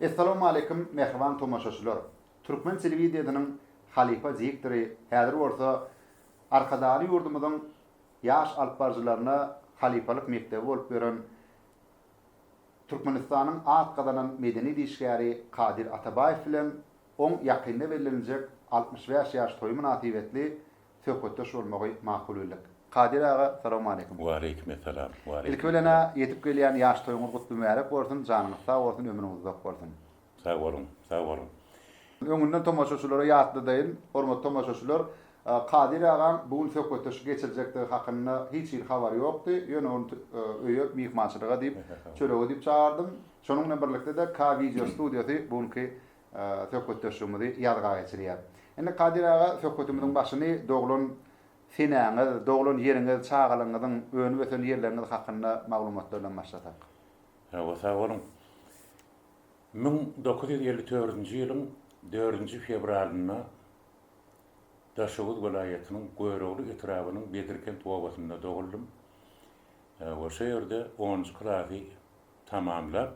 Essalawmaleýkim mähriban tomaşaçylar! Türkmen telewideniniň halypa diktory, häzir bolsa Arkadagly ýurdumyzyň ýaş alyp baryjylaryna halypalyk mekdebi bolup ýören Türkmenistanyň at gazanan medeniýet işgäri Kadir Atabaýew bilen oň ýakynda belleniljek altmyş bäş ýaş toýy mynasybetli söhbetdeş bolmagy makul bildik. Kadir aga salawmaleýkim. Waleýkim essalam. Ilki bilen-ä ýetip gelýän ýaş toýuňyz gutly mübärek bolsun, janyňyz sag bolsun, ömrüňiz uzak bolsun. Sag boluň, sag boluň. Öňünden tomaşaçylara ýatladayyn, hormatly tomaşaçylar, Kadir agaň bu gün söhbetdeşlik geçirjekdigi hakynda hiç hili habary ýokdy, ýöne ony öýe myhmançylyga diýip, çörege diýip çagyrdym. Şonuň bilen birlikde-de K-Video studiýasy bu günki Söhbetdeşligimizi ýazga geçirýär. Indi Kadyr aga söhbetimiziň başyny doglan senäňiz, doglan ýeriňiz, çagalygyňyzyň, önüp-ösen ýerleriňiz hakynda maglumatlardan başlasak. Hawa, sag boluň. Müň dokuz ýüz elli dördünji ýylyň dördünji fewralynda Daşoguz welaýatynyň Görogly etrabynyň Bedirkent obasynda doguldym we şo ýerde onunjy klasy tamamlap,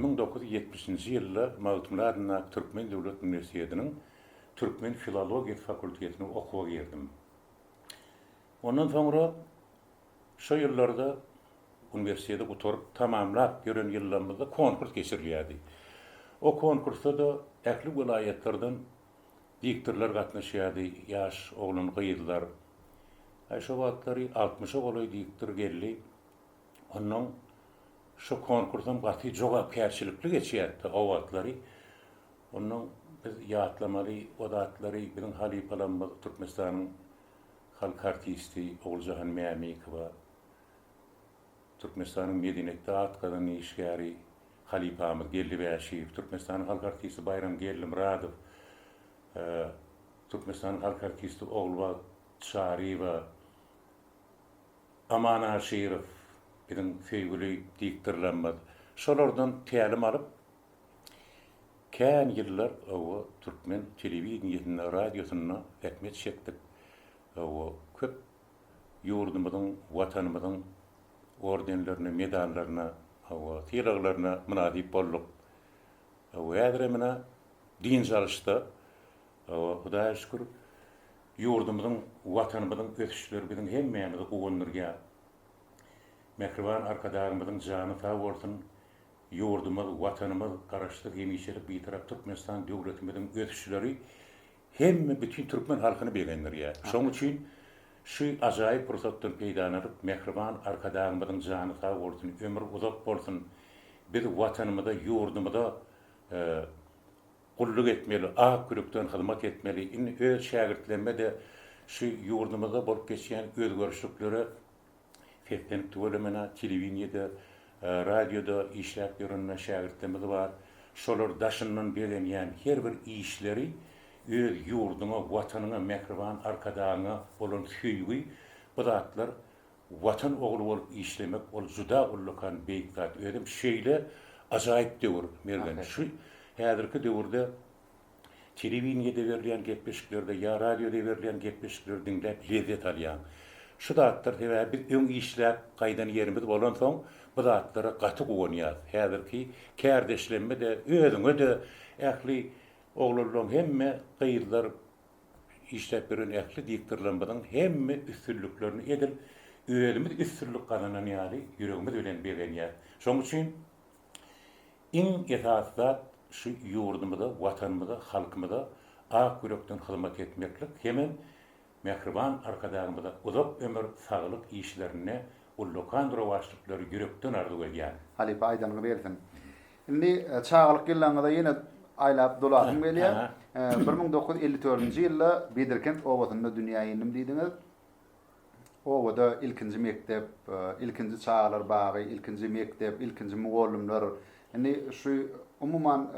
Müň dokuz ýüz ýetmişinji ýylda Magtymguly adyndaky Türkmen döwlet uniwersitetiniň türkmen filologiýasy fakultetine okuwa girdim. Ondan soňra şo ýyllarda uniwersiteti gutaryp, tamamlap ýören ýyllarymyzda konkurs geçirilýärdi. O konkursda-da ähli welaýatlardan diktorlar gatnaşýardy, ýaş oglan-gyzlar. Aý, şo wagtlary altmyşa golaý diktor geldi. Onnoň şu konkursam gaty jogapkärçilikli geçýärdi. O wagtlary onnoň biz ýatlamaly o zatlary biziň halypalarymyz Türkmenistanyň halk artisti Oguljahan Mämikowa, Türkmenistanyň medeniýetde at gazanan işgäri halypamyz Geldi Bäşiýew, Türkmenistanyň halk artisti Baýram Geldimyradow, Türkmenistanyň halk artisti Ogulbagt Çaryýewa, Aman Aşyrow, biziň söýgüli diktorlarymyz şolardan tälim alyp, kän ýyllar hawa türkmen telewideniýesinde, radiosynda zähmet çekdik. Hawa, köp ýurdumyzyň, Watanymyzyň ordenlerine, medallaryna, hawa, sylaglaryna mynasyp bolduk. Hawa, häzirem ine, dynç alyşda, hawa, Hudaýa şükür, Ýurdumyzyň, Watanymyzyň ösüşleri biziň hemmämizi guwandyrýar. Mähriban Arkadagymyzyň jany sag bolsun, ýurdumyz, Watanymyz, Garaşsyz, hemişelik Bitarap Türkmenistan döwletimiziň ösüşleri hemme bütin türkmen halkyny begendirýär. Şonuň üçin şu ajaýyp pursatdan peýdalanyp, mähriban Arkadagymyzyň jany sag bolsun, ömri uzak bolsun, biz Watanymyza, ýurdumyza Gulluk etmeli, ak ýürekden hyzmat etmeli. Indi öz şägirtlerime-de şu ýurdumyzda bolup geçýän özgerişliklere seslenip tüweleme-ne, telewideniýede, radioda işläp ýören-ne şägirtlerimiz bar. Şolar daşyndan begenýän her bir işleri öz ýurduňa, Watanyňa, mähriban Arkadagyňa bolan söýgi, bu zatlar Watan ogly bolup işlemek ol juda ullakan beýik zat özem şeýle ajaýyp döwür Mergen şu häzirki döwürde telewideniýede berilýän gepleşiklerde ýa radioda berilýän gepleşikleri diňläp lezzet alýaň şu zatlar sebäbi biz öň işläp gaýdan ýerimiz bolansoň bu zatlara gaty guwanýas häzirki kärdeşlemede özüňede ähli oglanlaň hemme gyzlar Işläp ýören ähli diktorlarymyzyň hemme üstünliklerini edil özümiz üstünlik gazanan ýaly ýüregimiz bilen begenýäs. Şonuň üçin iň esasy zat şu ýurdumyza, Watanymyza, halkymyza ak ýürekden hyzmat etmeklik hemem Mähriban Arkadagymyza uzak ömür, saglyk, işlerinde Ullakan rowaçlyklary ýürekden arzuw edýän. Halypa aýdanyňy bersin. Indi çagalyk ýyllaryňyza ýene aýlap dolasym gelýär. Bir müň dokuz ýüz elli dördünji ýylda Bedirkent obasynda dünýä indim diýdiňiz. Obada ilkinji mekdep, ilkinji çagalar bagy, ilkinji mekdep, ilkinji mugallymlar. Indi şu umuman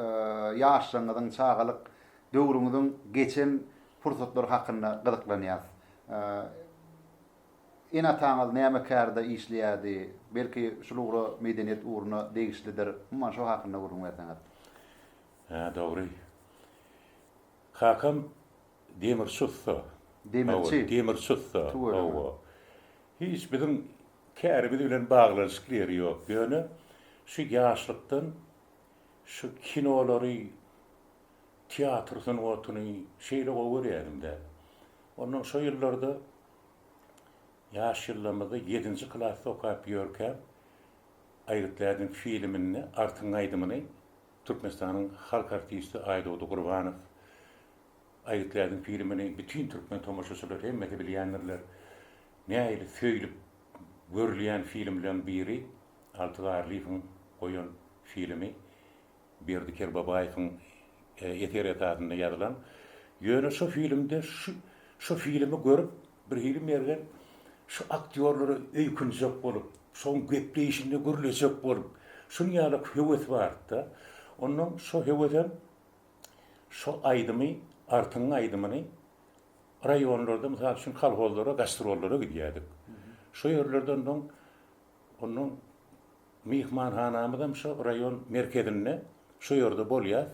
ýaşlygyňyzyň, çagalyk döwrüňiziň geçen pursatlary hakynda gyzyklanýas. Ene-ataňyz näme kärde işleýärdi? Belki şul ugra medeniýet ugruna degişlidir. Umuman şo hakynda gürrüň berseňiz. Hä dogry. Kakam demirçi ussa. Demirçi. Demirçi ussa. Hawa. Hiç biziň kärimiz bilen baglanyşykly ýeri ýok. Ýöne şu ýaşlykdan şu kinolary, teatr sungatyny şeýle gowy görýädim-dä. Ondan şo ýyllarda Ýaş ýyllarymyzda ýedinji klasda okap ýörkä Aýgytdädiň filminde Artyň aýdymyny Türkmenistanyň halk artisti Aýdogdy Gurbanow Aýgytdädiň filmini bütin türkmen tomaşaçylary hemmesi bilýändirler. Nähili söýlüp görülýän filmleriň biri Alty Garlyýewiň goýan filmi. Berdi Kerbabaýewiň eseri esasynda ýazylan. Ýöne şo filmde şu şo filmi görüp birhili Mergen şu aktýorlara öýkünjek bolup, şoň gepleýşinde gürlejek bolup, şun ýalak höwes bardy-da. Onnoň şo höwesem şo aýdymy Artyň aýdymyny raýonlarda mysal üçin kolhozlara gastrollara gidýädik. Şo ýerlerde onnoň Onda myhmanhanamyzam şo raýon merkezinde, şo ýerde bolýas.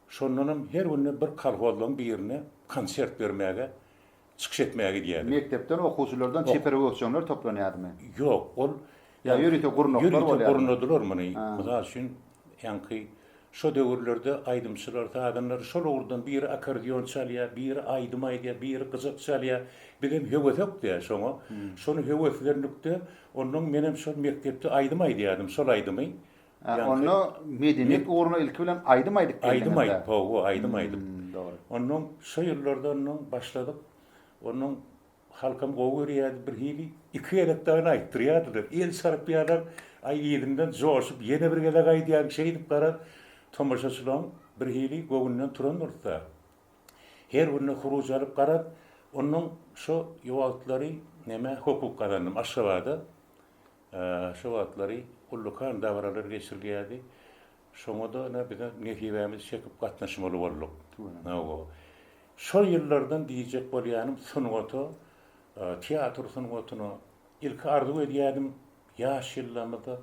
Şondanam her günde bir kolhozlaň birine konsert bermäge, çykyş etmäge gidýädik. Mekdepden, okuwçylardan çeper öwüsjeňler toplanýadymy? Ýok, ol. Ýa ýörite gurnaklar bolýadymy? Ýörite gurnadylar muny. Mysal üçin, ýaňky Şo döwürlerde aýdymçylar, sazanlar şol ugurdan biri akkordeon çalýar, biri aýdym aýdýar, biri gyjak çalýar. Bizem höwesek-dä şoňa. Şony höweslendik-de, onnoň menem şol mekdepde aýdym aýdýardym, şol aýdymy. Hä, onda medeniýet ugruna ilki bilen aýdym aýdyp geldiňiz-dä? Aýdym aýdyp, hawa, aýdym aýdyp. Onnoň şo ýyllarda onnoň başladyk. Onnoň Halkam gowy görýärdi birhili. Iki gezek dagyn aýtdyrýardylar. El çarpýarlar. Aý yzyndan joşup ýene bir gezek aýdýan şeýdip garaz tomaşaçylaň birhili göwünden turan dursa. Her birine huruj alyp garaz onnoň şo ýowagtlary nämä hukuk gazandym Aşgabada. Şo wagtlary ullakan dabaralar geçirilýärdi. Şoňa-da ine bizem nesibämizi çekip gatnaşmaly bolduk. Hawa. Şol ýyllardan diýjek bolýanym sungata, teatr sungatyna ilki arzuw edýärdim, ýaş ýyllarymda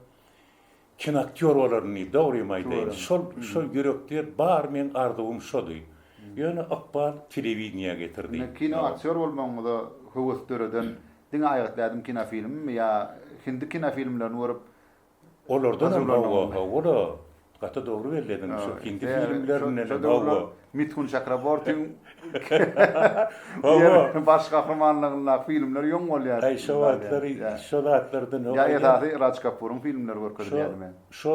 kinoaktýor bolaryn diýip, dogrymy aýdaýyn. Şol, şol ýürekde bar meň arzuwym şody. Ýöne ykbal telewideniýä getirdi. Indi kinoaktýor bolmagyňyza höwes döreden diňe aýgytly ädim kinofilmmi ýa hindi kinofilmlerini görüp Olardanam hawa hawa-la gaty dogry belli ediň şu hindi filmlerindenem hawa. Mithun Çakrabortiň hawa baş gahrymanlygyndaky filmler ýoň bolýar. Aý şo wagtlary şo zatlardan hawa. Ýa esasy Raj Kapuryň filmleri görkezilýärmi? Şo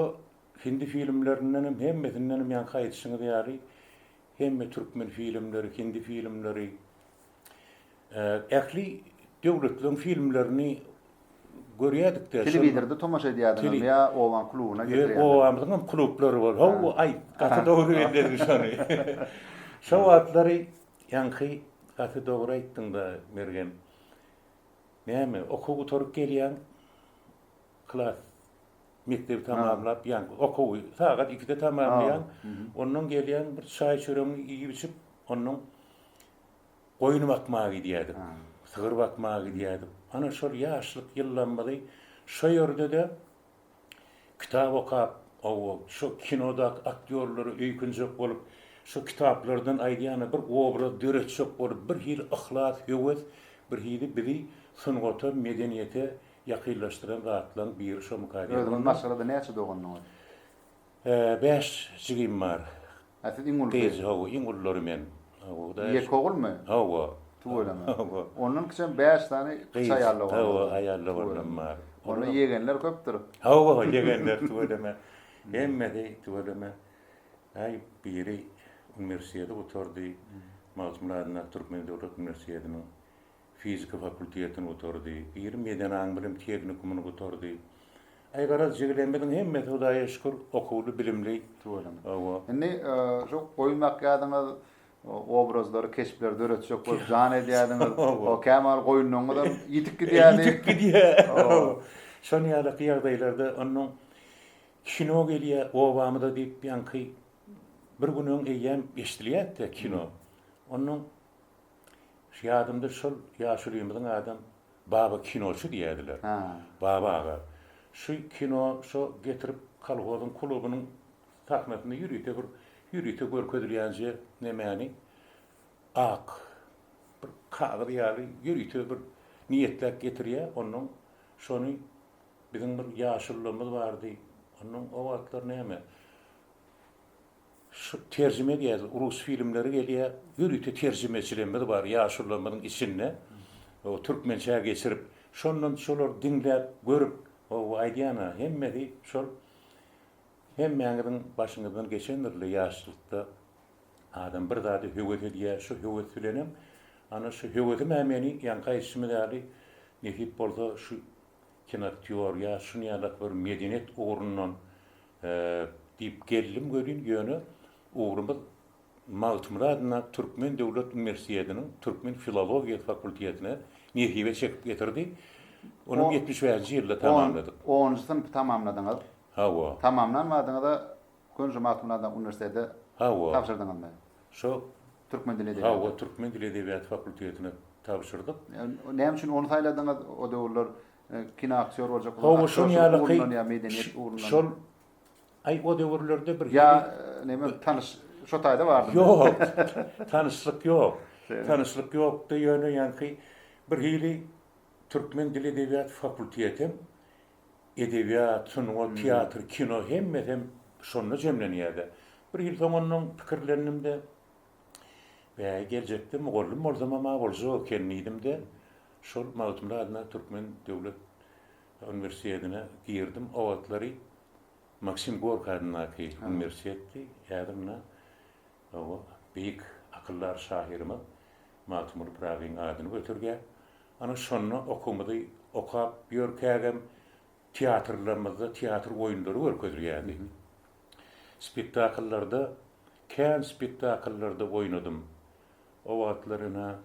hindi filmlerindenem hemmesindenem ýaňky aýdyşyňyz ýaly hemme türkmen filmleri hindi filmleri Ähli döwletleriň filmlerini görýädikde. Telewizorda tomaşa edýädiňizmi ýa obanyň klubyna getirýäňizmi? Ýok, obamyzyň hem klublary bar. Hawa, aý, gaty dogry bellediň şony. Şo wagtlary ýaňky gaty dogry aýtdyň-da, Mergen. Näme, okuw gutaryp gelýäň, klas, mekdebi tamamlap, ýaňky okuwy sagat ikide tamamlaýaň, ondan gelýäň, bir çaý-çöregiňi iýip-içip, ondan goýun bakmaga gidýärdik, sygyr bakmaga gidýärdik. Ana şol ýaşlyk ýyllarymyzy şo ýerde-de kitap okap, hawa, şo kinodaky aktýorlary öýkünjek bolup, şo kitaplardan aýdýany bir obraz döretjek bolup, bir hili yhlas, höwes, bir hili bizi sungata, medeniýete ýakynlaşdyran zatlaryň biri şomyka diýip. Özüňiz maşgalada näçe dogandyňyz? Bäş jigim bar. Hä siz iň ulusy. Gyz hawa iň ullary men. Hawa. Ýeke ogulmy? Hawa. Tüweleme. Hawa. Ondan kiçem bäş sany kiçi aýalla bar. Hawa aýalla oglanam bar. Onda ýegenler köpdür. Hawa ýegenler tüweleme. Hemmesi tüweleme. Aý biri uniwersiteti gutardy. Magtymguly adyndaky Türkmen döwlet uniwersitetiniň Fizika fakultetini gutardy. Ýerim ýeden aň bilim tehnikumyny gutardy. Aý garaz jigilemiziň hemmesi Hudaýa şükür okuwly bilimli. Tüweleme. Hawa. Indi şu goýun bakýadyňyz, obrazlary, keşpleri döretjek bolup jan edýädiňiz. Hawa. Käm wagt goýunlaryňyzam ýitip gidýärdi. Ýitip gidýär. Hawa. Şon ýalyky ýagdaýlarda onuň kino gelýär obamyza diýip ýaňky bir gün öň eýýäm eşdilýärdi kino. Onuň Ýadymda şol ýaşulymyzyň adam Baba kinoçy diýýärdiler. Baba aga şu kino şo getirip kolhozyň klubynyň sahnasynda ýörite bir ýörite görkezilýänje nemäni ak bir kagyz ýaly ýörite bir niýetläp getirýä onnoň şony biziň bir ýaşulymyz bardy onnoň o wagtlar näme Şu terjime geldi, rus filmleri gelýär, ýörite terjimeçilerimiz bar ýaşulularymyzyň içinde, o türkmençä geçirip, şondan şolary diňläp, görüp, o aýdýan-a, hemmesi şol hemmäňiziň başyňyzdan geçendir-le ýaşlykda adam bir zada höwes edýär, şu höwes bilenem, ana şu höwesim-ä meni ýaňky aýdyşymyz ýaly, nesip bolsa şu kinoaktýor ýa şuny ýaly bir medeniýet ugrundan Diýip geldim welin, ýöne ugrumyz Magtymguly adyndaky Türkmen döwlet uniwersitetiniň türkmen filologiýasy fakultetine nesibe çekip getirdi. Onuň ýetmiş bäşinji ýylynda tamamladyk. Onunjy synpy tamamladyňyz. Hawa. Tamamlan badyňyza gön şu Magtymguly adyndaky uniwersitete Hawa. tabşyrdyňyzmy? Şo Türkmen dili edebiýaty. Hawa, türkmen dili edebiýaty fakultetine tabşyrdyk. Näme üçin ony saýladyňyz? O döwürler Kino aktýor boljak bolan. Hawa şoň ýaly keý. Şol aý o döwürlerde bir. Ýa neme tanyş şo taýda bardymy. Ýok. Tanyşlyk ýok. Tanyşlyk ýokdy ýöne ýaňy keý bir hili türkmen dili edebiýat fakultetem edebiýat, sungat, teatr, kino hemmesem şonda jemlenýärdi. Bir hili soň onnoň pikirlendim-de. Bäý, geljekde mugallym bolsamam-a boljak eken diýdim-de, şol Magtymguly adyndaky Türkmen döwlet uniwersitetine girdim. O wagtlary Maksim Gorki adyndaky uniwersitetdi. Häzir mundan oba beýik akyldar şahyrymyz Magtymguly Pyragyň adyny göterýär. Ana, şonda okumyzy okap ýörkägem teatrlarymyzda teatr oýunlary görkezilýärdi. Spektakllarda, kän spektakllarda oýnadym. O wagtlar ene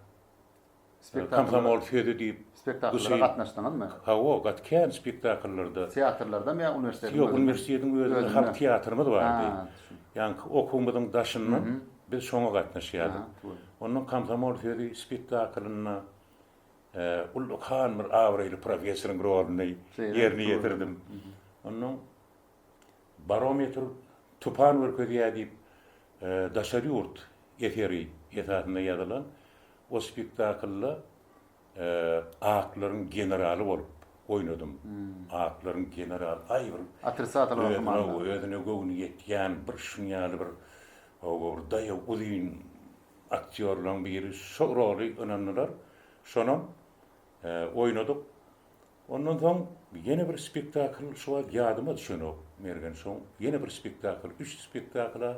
Komsomol sözi diýip. Spektaklara gatnaşdyňyzmy? Hawa, gat kän spektakllarda. Teatrlardamy ýa uniwersitetiň özündemi? Ýok, uniwersitetiň özünde halk teatrymyz bardy. Ýaňky okuwymyzyň daşyndan biz şoňa gatnaşýardyk. Ondan Komsomol sözi spektaklynda ullakan bir abraýly professoryň roluny ýerine ýetirdim. Ondan Barometr tupan görkezýär diýip, daşary ýurt eseri esasynda ýazylan o spektaklda aklaryň generaly bolup oýnadym. Aklaryň generaly, aý bir özüne göwni ýetýän bir şuň ýaly bir daýaw uzyn aktýorlaryň biri. Şo roly ynandylar. Şonam oýnadyk. Ondan soň ýene bir spektakl şu wagt ýadyma düşenok, Mergen şoň ýene bir spektakl, üç spektakl-a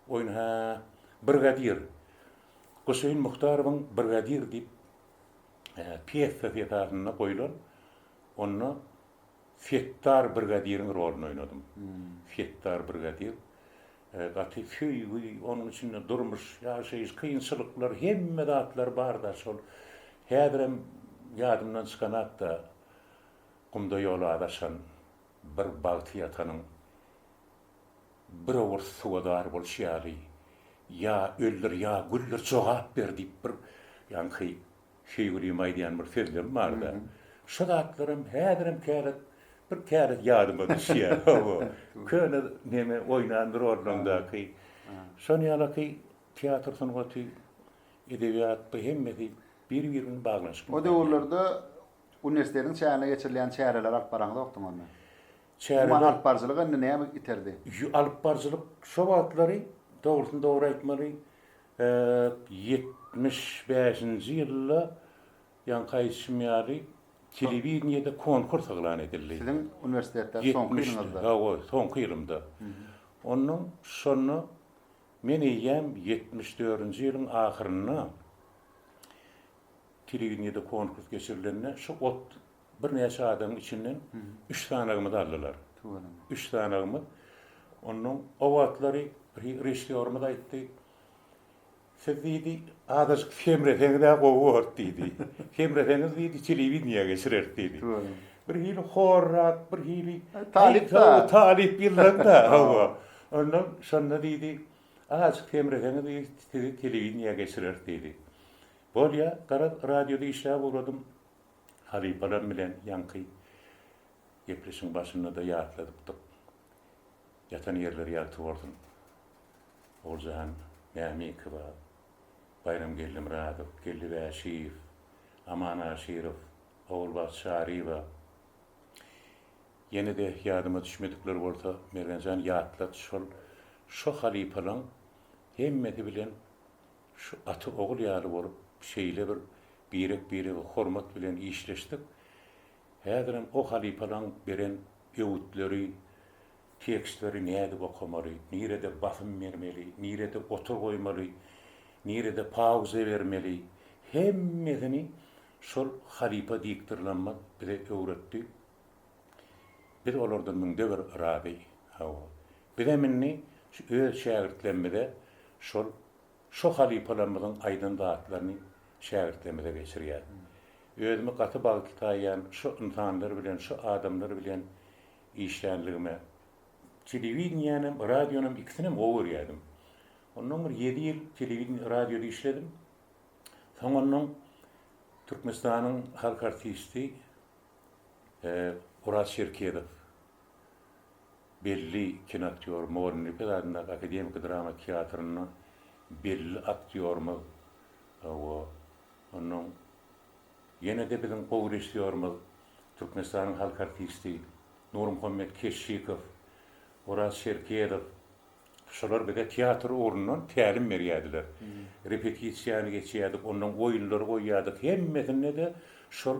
oýun, hä, Brigadir. Guseýin Muhtarowyň Brigadir diýip pýesasy esasynda goýlan, onda Setdar brigadiriň roluny oýnadym. Setdar brigadir. Gaty söýgi, onuň içinde durmuş, ýaşaýyş, kynçylyklar, hemme zatlar bar-da şol. Häzirem ýadymdan çykanok-da, gumda ýol azaşan bir bagty ýatanyň bir owurt suwa zar bolşy ýaly, Ýa öldür, ýa güldir, jogap ber diýip bir ýaňky Şeýgülimiň aýdýan bir sözlemi bar-da, Şu zatlaram häzirem käret, bir käret ýadyma düşýär. Hawa, köne neme, oýnan bir ornuňdaky. Şonuň ýalyky teatr sungaty, edebiýat, bu hemmesi bir-biri bilen baglanyşykly O zat. döwürlerde uniwersitetiň çäginde geçirilýän çäreleri alyp baraňzokdyň onda. Çäreler- Umuman, alypbaryjylyk indi näme iterdi? Ýo, alypbaryjylyk şo wagtlary, dogrusyny dogry aýtmaly, Ep, ýetmiş bäşinji ýylda, ýaňky aýdyşym ýaly, telewideniýede konkurs yglan edildi. Siziň uniwersitetde soňky ýylyňyzda? Hawa, soňky ýylymda. Onnoň şonda men eýýäm ýetmiş dördünji ýylyň ahyrynda telewideniýede konkurs geçirilende, şu ot birnäçe adamyň içinden üç sanagymyzy aldylar. Üç sanagymyz. Ondan o wagtlary bir režissýorymyz aýtdy. Siz diýdi, azajyk semreseňiz-ä gowy bolardy diýdi. Semreseňiz diýdi, telewideniýä geçireris diýdi. Bir hili horrak, bir hili talyp-da. Talyp ýyldan-da, hawa. Ondan şonda diýdi, azajyk semreseňiz diýdi, sizi telewideniýä geçireris diýdi. Bolýa, garaz, radioda işläp ugradym. Halypalar bilen ýaňky gepleşigiň başynda-da ýatladypdyk. Ýatan ýerleri ýagty bolsun. Oguljan Mämikowa, Baýramgeldi Myradow, Geldi Bäşiýew, Aman Aşyrow, Ogulbagt Çaryýewa, ýene-de ýadyma düşmedikler bolsa, Mergenjan ýatlat, şol, şo halypalaň hemmesi bilen Şu ata-ogul ýaly bolup, şeýle bir birek-birege hormat bilen işleşsek, häzirem o halypalaň beren öwütleri, tekstleri nädip okamaly, nirede basym bermeli, nirede gotur goýmaly, nirede pauza bermeli, hemmesini şol halypa diktorlamyz bize öwretdi. Biz olardan müňde bir razy. Hawa. Bizem indi şu öz şägirtlerimize şol şo halypalarymyzyň aýdan zatlaryny şägirtlerimize geçirýäs. Özümi gaty bagtly saýýan şo ynsanlar bilen, şo adamlar bilen işlänligime. Telewideniýänem, radionam ikisinem gowy görýärdim. Ondan bir ýedi ýyl telewideniýede, radioda işledim. Soňundan Türkmenistanyň halk artisti. Oraz Çerkezow belli kinoaktýor, Morin Lipez adyndaky akademiki drama teatrynda belli aktýorymyz we ondan ýene-de biziň gowy režissýorymyz, Türkmenistanyň halk artisti Nurmuhammet Keşşikow, Oraz Çerkezow, Şolar bize teatr ugrundan tälim berýärdiler. Repetisiýany geçýärdik, ondan oýunlary goýýardyk. Hemmesinde-de şol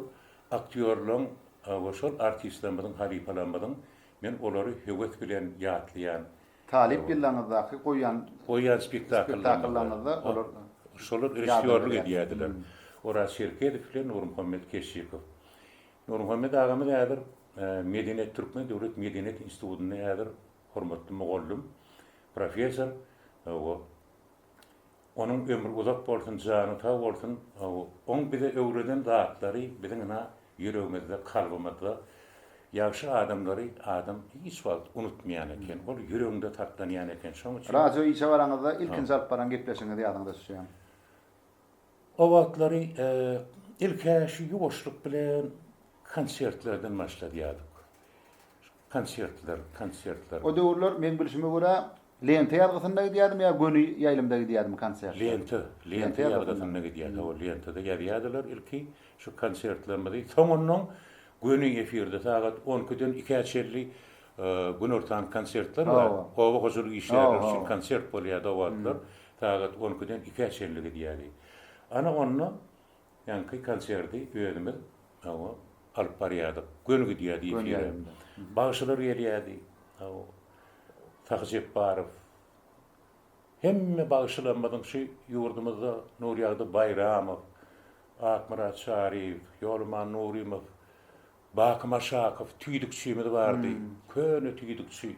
aktýorlaryň we şol artistlerimiziň, halypalarymyzyň men olary höwes bilen ýatlaýan. Talyp ýyllaryňyzdaky goýan. Goýan spektakllaryňyzda olar. Şolar režissýorlyk edýärdiler. Oraz Çerkezow bilen Nurmuhammet Keşşikow. Nurmuhammet agamyz häzir Medeniýet, Türkmen döwlet medeniýet institutynda häzir. hormatly mugallym, professor, hawa, onuň ömri uzak bolsun, jany sag bolsun, hawa, oň bize öwreden zatlary biziň ynha ýüregimizde, kalbymyzda, ýagşy adamlary adam hiç wagt unutmaýan eken, ol ýüreginde saklanýan eken, şoň üçin. Radio işe baraňyzda ilkinji alyp baran gepleşigiňizi ýadyňyza düşýämi? O wagtlary ilk-ä şu ýuwaşlyk bilen konsertlerden başladýardyk. Konsertler, konsertler. O döwürler meň bilşime görä Lenta ýazgysynda gidýärdim ýa göni ýaýlymda gidýärdim konsertler. Lenta, Lenta ýazgysynda gidýärdi. Hawa, Lentada ýazýardylar ilki şu konsertlerimizi. Soňundan göni efirde sagat on ikiden ikä çenli günortan konsertler bar. Oba hojalyk işgärleri üçin konsert bolýardy o wagtlar. Sagat on ikiden ikä çenli gidýärdi. Ana onda Ýaňky konserti özümiz hawa alyp barýardyk. Göni gidýärdi efire. Bagşylar gelýärdi. Hawa. Sahy Jepbarow. Hemme bagşylarymyzyň şu ýurdumyzda Nurýagdy Baýramow, Akmyrat Çaryýew, Ýoluman Nurymow, Baky Maşakow tüýdükçimiz bardy. Köne tüýdükçi.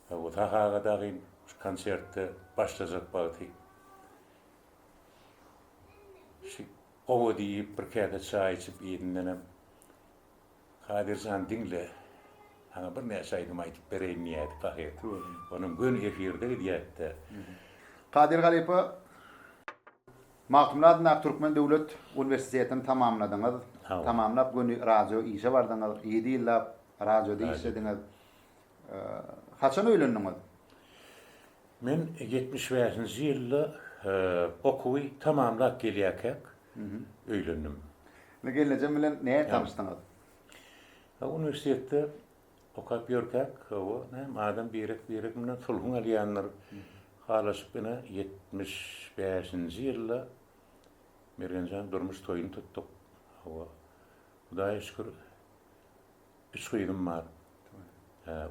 Hawa Sahy aga dagyn şu konsertde başlajak wagty Şi owa diýip, bir käse çaý içip yzyndanam, Kadyr jan, diňle, saňa birnäçe aýdym aýdyp bereýin diýýärdi pahyr. Onuň göni efirde gidýärdi-de. Kadyr halypa, Magtymguly adyndaky Türkmen döwlet uniwersitetini tamamladyňyz. Tamamlap, göni radio işe bardyňyz. Ýedi ýyllap radioda işlediňiz. Haçan öýlendiňiz? Men ýetmiş bäşinji ýylda okuwy tamamlap gelýärkäk öýlendim. Indi gelnejem bilen nädip tanyşdyňyz? Uniwersitetde okap ýörkäk, hawa, näme, adam birek-birek bilen sulhuň alýandyr. Halaşyp ine ýetmiş bäşinji ýylda Mergenjan durmuş toýuny tutduk. Hawa, Hudaýa şükür, Üç gyzym bar.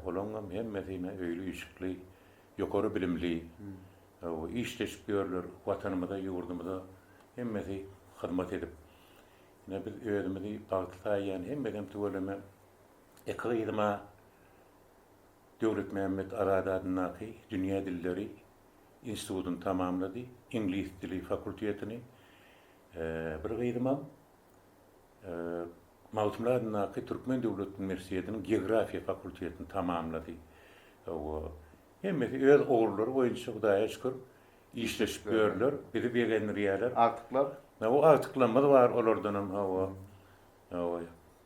Olaňam hemmesine öýli-üýşükli, ýokary bilimli, işleşip ýörler, Watanymyza, ýurdumyza hemmesi hyzmat edip. Ine, biz özümizi bagtly saýýan, hemmesem tüweleme iki gyzyma Döwletmämmet Azady adyndaky Dünýä dilleri institutyny tamamlady, iňlis dili fakultetini. Bir gyzymam Magtymguly adyndaky Türkmen döwlet uniwersitetiniň geografiýa fakultetini tamamlady. Hawa, hemmesi öz ugurlary boýunça Hudaýa şükür işleşip ýörler, bizi begendirýärler. Agtyklar? Hawa, agtyklarymyz bar olardanam, hawa. Hawa,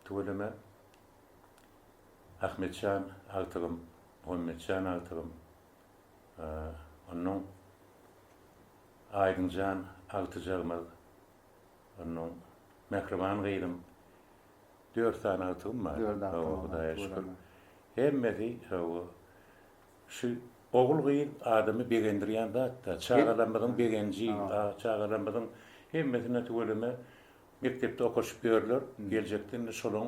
tüweleme Ahmetjan agtygym, Muhammetjan agtygym, onnoň Aýdyňjan agtyjagymyz, Onnoň mähriban gyzym, dört sany agtygym bar. Dört agtygyňyz bar. Hawa, Hudaýa şükür. Hemmesi, hawa, şu ogul-gyz adamy begendirýän zat-da. Çagalarymyzyň begenji, çagalarymyzyň hemmesine tüweleme mekdepde okaşyp ýörler. Geljekde indi şolaň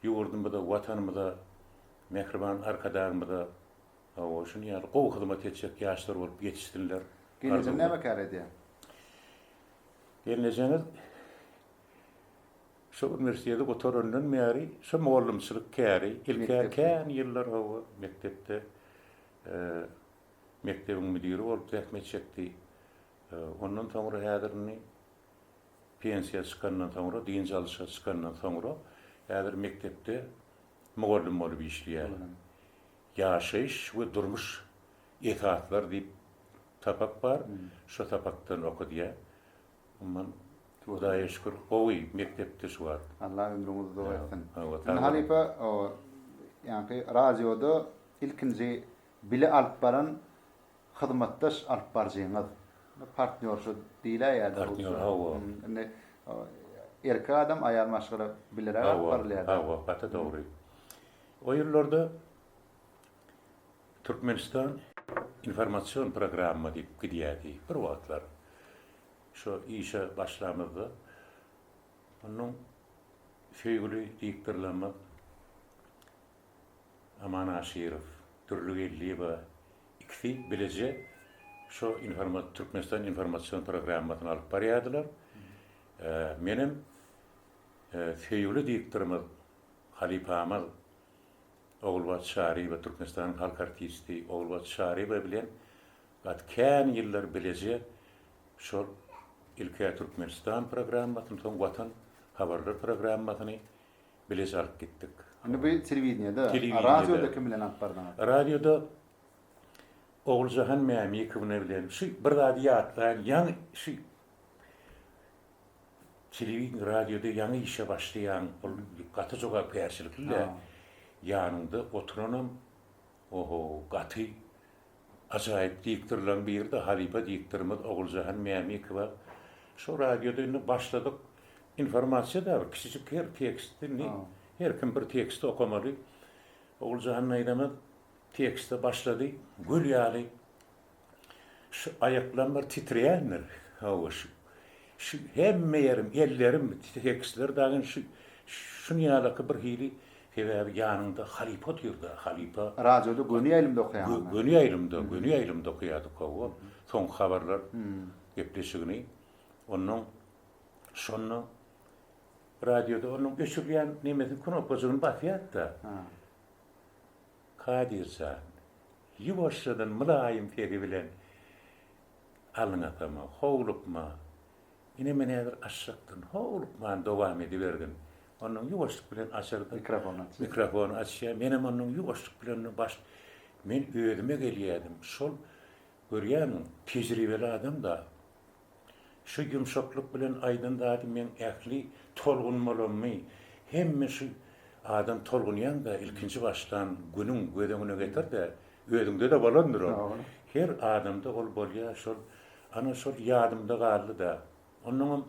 ýurdumyza, Watanymyza, mähriban Arkadagymyza, hawa, şuny ýaly gowy hyzmat etjek ýaşlar bolup ýetişsinler. Geljeginde näme kär edýäň? Gelnejeňiz şu uniwersiteti gutarandan bäri şu mugallymçylyk käri, ilk-ä kän ýyllar hawa, mekdepde mekdebiň müdiri bolup zähmet çekdi. Ondan soňra häzir indi pensiýa çykandan soňra, dynç alyşa çykandan soňra häzir mekdepde mugallym bolup işleýär. Ýaşaýyş we durmuş esaslar diýip sapak bar, şo sapakdan okadýa. Umuman Hudaýa şükür gowy mekdepde şu wagt. Allah ömrüňizi uzak etsin. Indi halypa o ýaňky radioda ilkinji bile alyp baran hyzmatdaş alyp barjyňyz. Partnýorşa diýläýýädi. Partnýor hawa. Indi erkek adam aýal maşgala bileräk alyp barylýada. Hawa, gaty dogry. O ýyllarda Türkmenistan informasion programma diýip gidýärdi bir wagtlar. Şo işe başlamyzda onuň söýgüli diktorlamyz Aman Aşyrow, Dürli Geldiýewa ikisi bileje şo informat Türkmenistan informasion programmasyny alyp barýardylar. Menem söýgüli diktorymyz halypamyz Ogulbagt Çaryýewa Türkmenistanyň halk artisti Ogulbagt Çaryýewa bilen gaty kän ýyllar bileje şol ilk-ä Türkmenistan programmasyny, soň Watan habarlar programmasyny bileje alyp gitdik. Indi bu telewideniýede, radioda kim bilen alyp bardyňyz? Radioda Oguljahan Mämikowna bilen. Şu bir zady ýatlaýyn, ýaňy şu Telewideniýe, radioda ýaňy işe başlaýaň, ol gaty jogapkärçilikli-le. Ýanyňda oturanam, oho, gaty ajaýyp diktorlaryň biri-de halypa diktorymyz Oguljahan Mämikowa. Şo radioda indi başladyk. Informasiýa dabar, kiçijik her tekst indi, her kim bir teksti okamaly. Oguljahan daýzamyz tekste başlady, göl ýaly. Şu aýaklarym bir titreýändir. Hawa, şu, şu hemme ýerim, ellerim, tekisleri dagy indi şu, şuny ýalaky bir hili, sebäbi ýanyňda halypa otyr-da, halypa. Radioda göni ýaýlymda okaýaňyzmy? Göni ýaýlymda, göni ýaýlymda okaýardyk, hawa. Soňky habarlar gepleşigini. Onnoň, şonda radioda onuň öçürilýän nemesini, knopkajygyny basýardy-da. Kadyr jan! Ýuwaşjadan mylaýym sesi bilen Alyň akama, howlukma! Ine men häzir açjakdyn, howlukman dowam edibergin! Onnoň ýuwaşlyk bilen açarda, mikrofony açýar, menem onnoň ýuwaşlyk bilen baş Men özüme gelýädim, şol, görýäňmi, tejribeli adam-da, Şu ýumşaklyk bilen aýdan zady meň ähli tolgunmalamy hemme şu adam tolgunýaňda ilkinji başlan günüň göz öňüne getirde, özüňde-de bolandyr ol. Her adamda ol bolýar şol. Ana şol ýadymda galdy-da. Onnoňam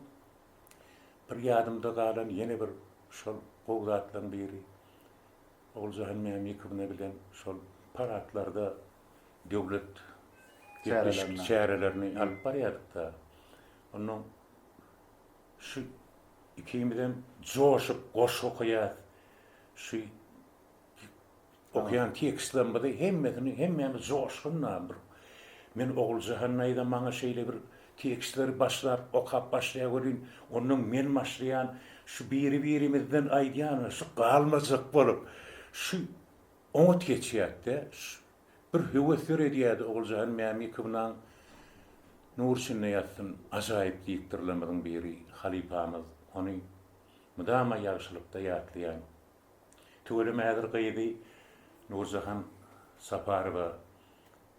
bir ýadymda galan ýene bir şol gowy zatlaryň biri Oguljahan Mämikowna bilen şol paradlarda döwlet gepleşik çärelerini alyp barýardyk-da. Onda şu ikimizem joşup goşgy okaýarys. Şu okaýan tekstlerimizi hemmesini hemmämiz joşgunla bir Men Oguljahan naýza maňa şeýle bir tekstleri başlap okap başlaýa welin, onnoň men başlaýan, şu biri-birimizden aýdýanymyz şu galmajak bolup, şu Oňat geçýärdi-de, bir höwes döredýärdi Oguljahan Mämikownaň Nur içinde ýatsyn ajaýyp diktorlarymyzyň biri, halypamyz, ony mydama ýagşylykda ýatlaýan. Tüweleme häzir gyzy Nurjahan Saparowa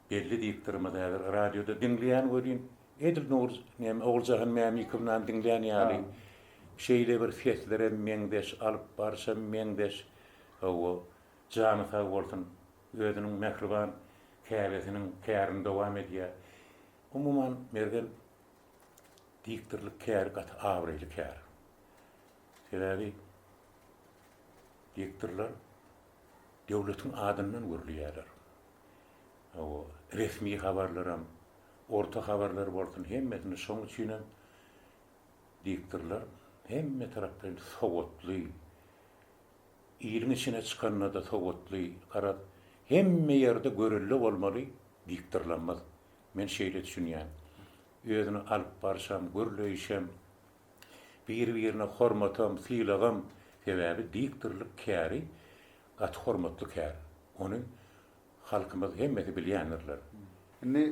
Belli diýip durmaz häzir radioda diňleýän welin edil Nowruz näme Oguljahan Mämikownan diňleýän ýaly şeýle bir seslerem meňzeş alyp baryşam meňzeş hawa jany sag bolsun özüniň mähriban käbesiniň kärini dowam edýä umuman Mergen diktorlyk käri gaty abraýly kär sebäbi diktorlar döwletiň adyndan gürleýärler. Hawa, resmi habarlaram, orta habarlar bolsun, hemmesini şoň üçinem diýipdirler. Hemme taraplaýyn sowatly, iliň içine çykanda-da sowatly, garaz, hemme ýerde görelde bolmaly diýipdirlemez. Men şeýle düşünýän. Özüni alyp barşam, gürleýişem Bir-birine hormatam, sylagam, sebäbi diktorlyk käri gaty hormatly kär. Ony halkymyz hemmesi bilýändirler. Indi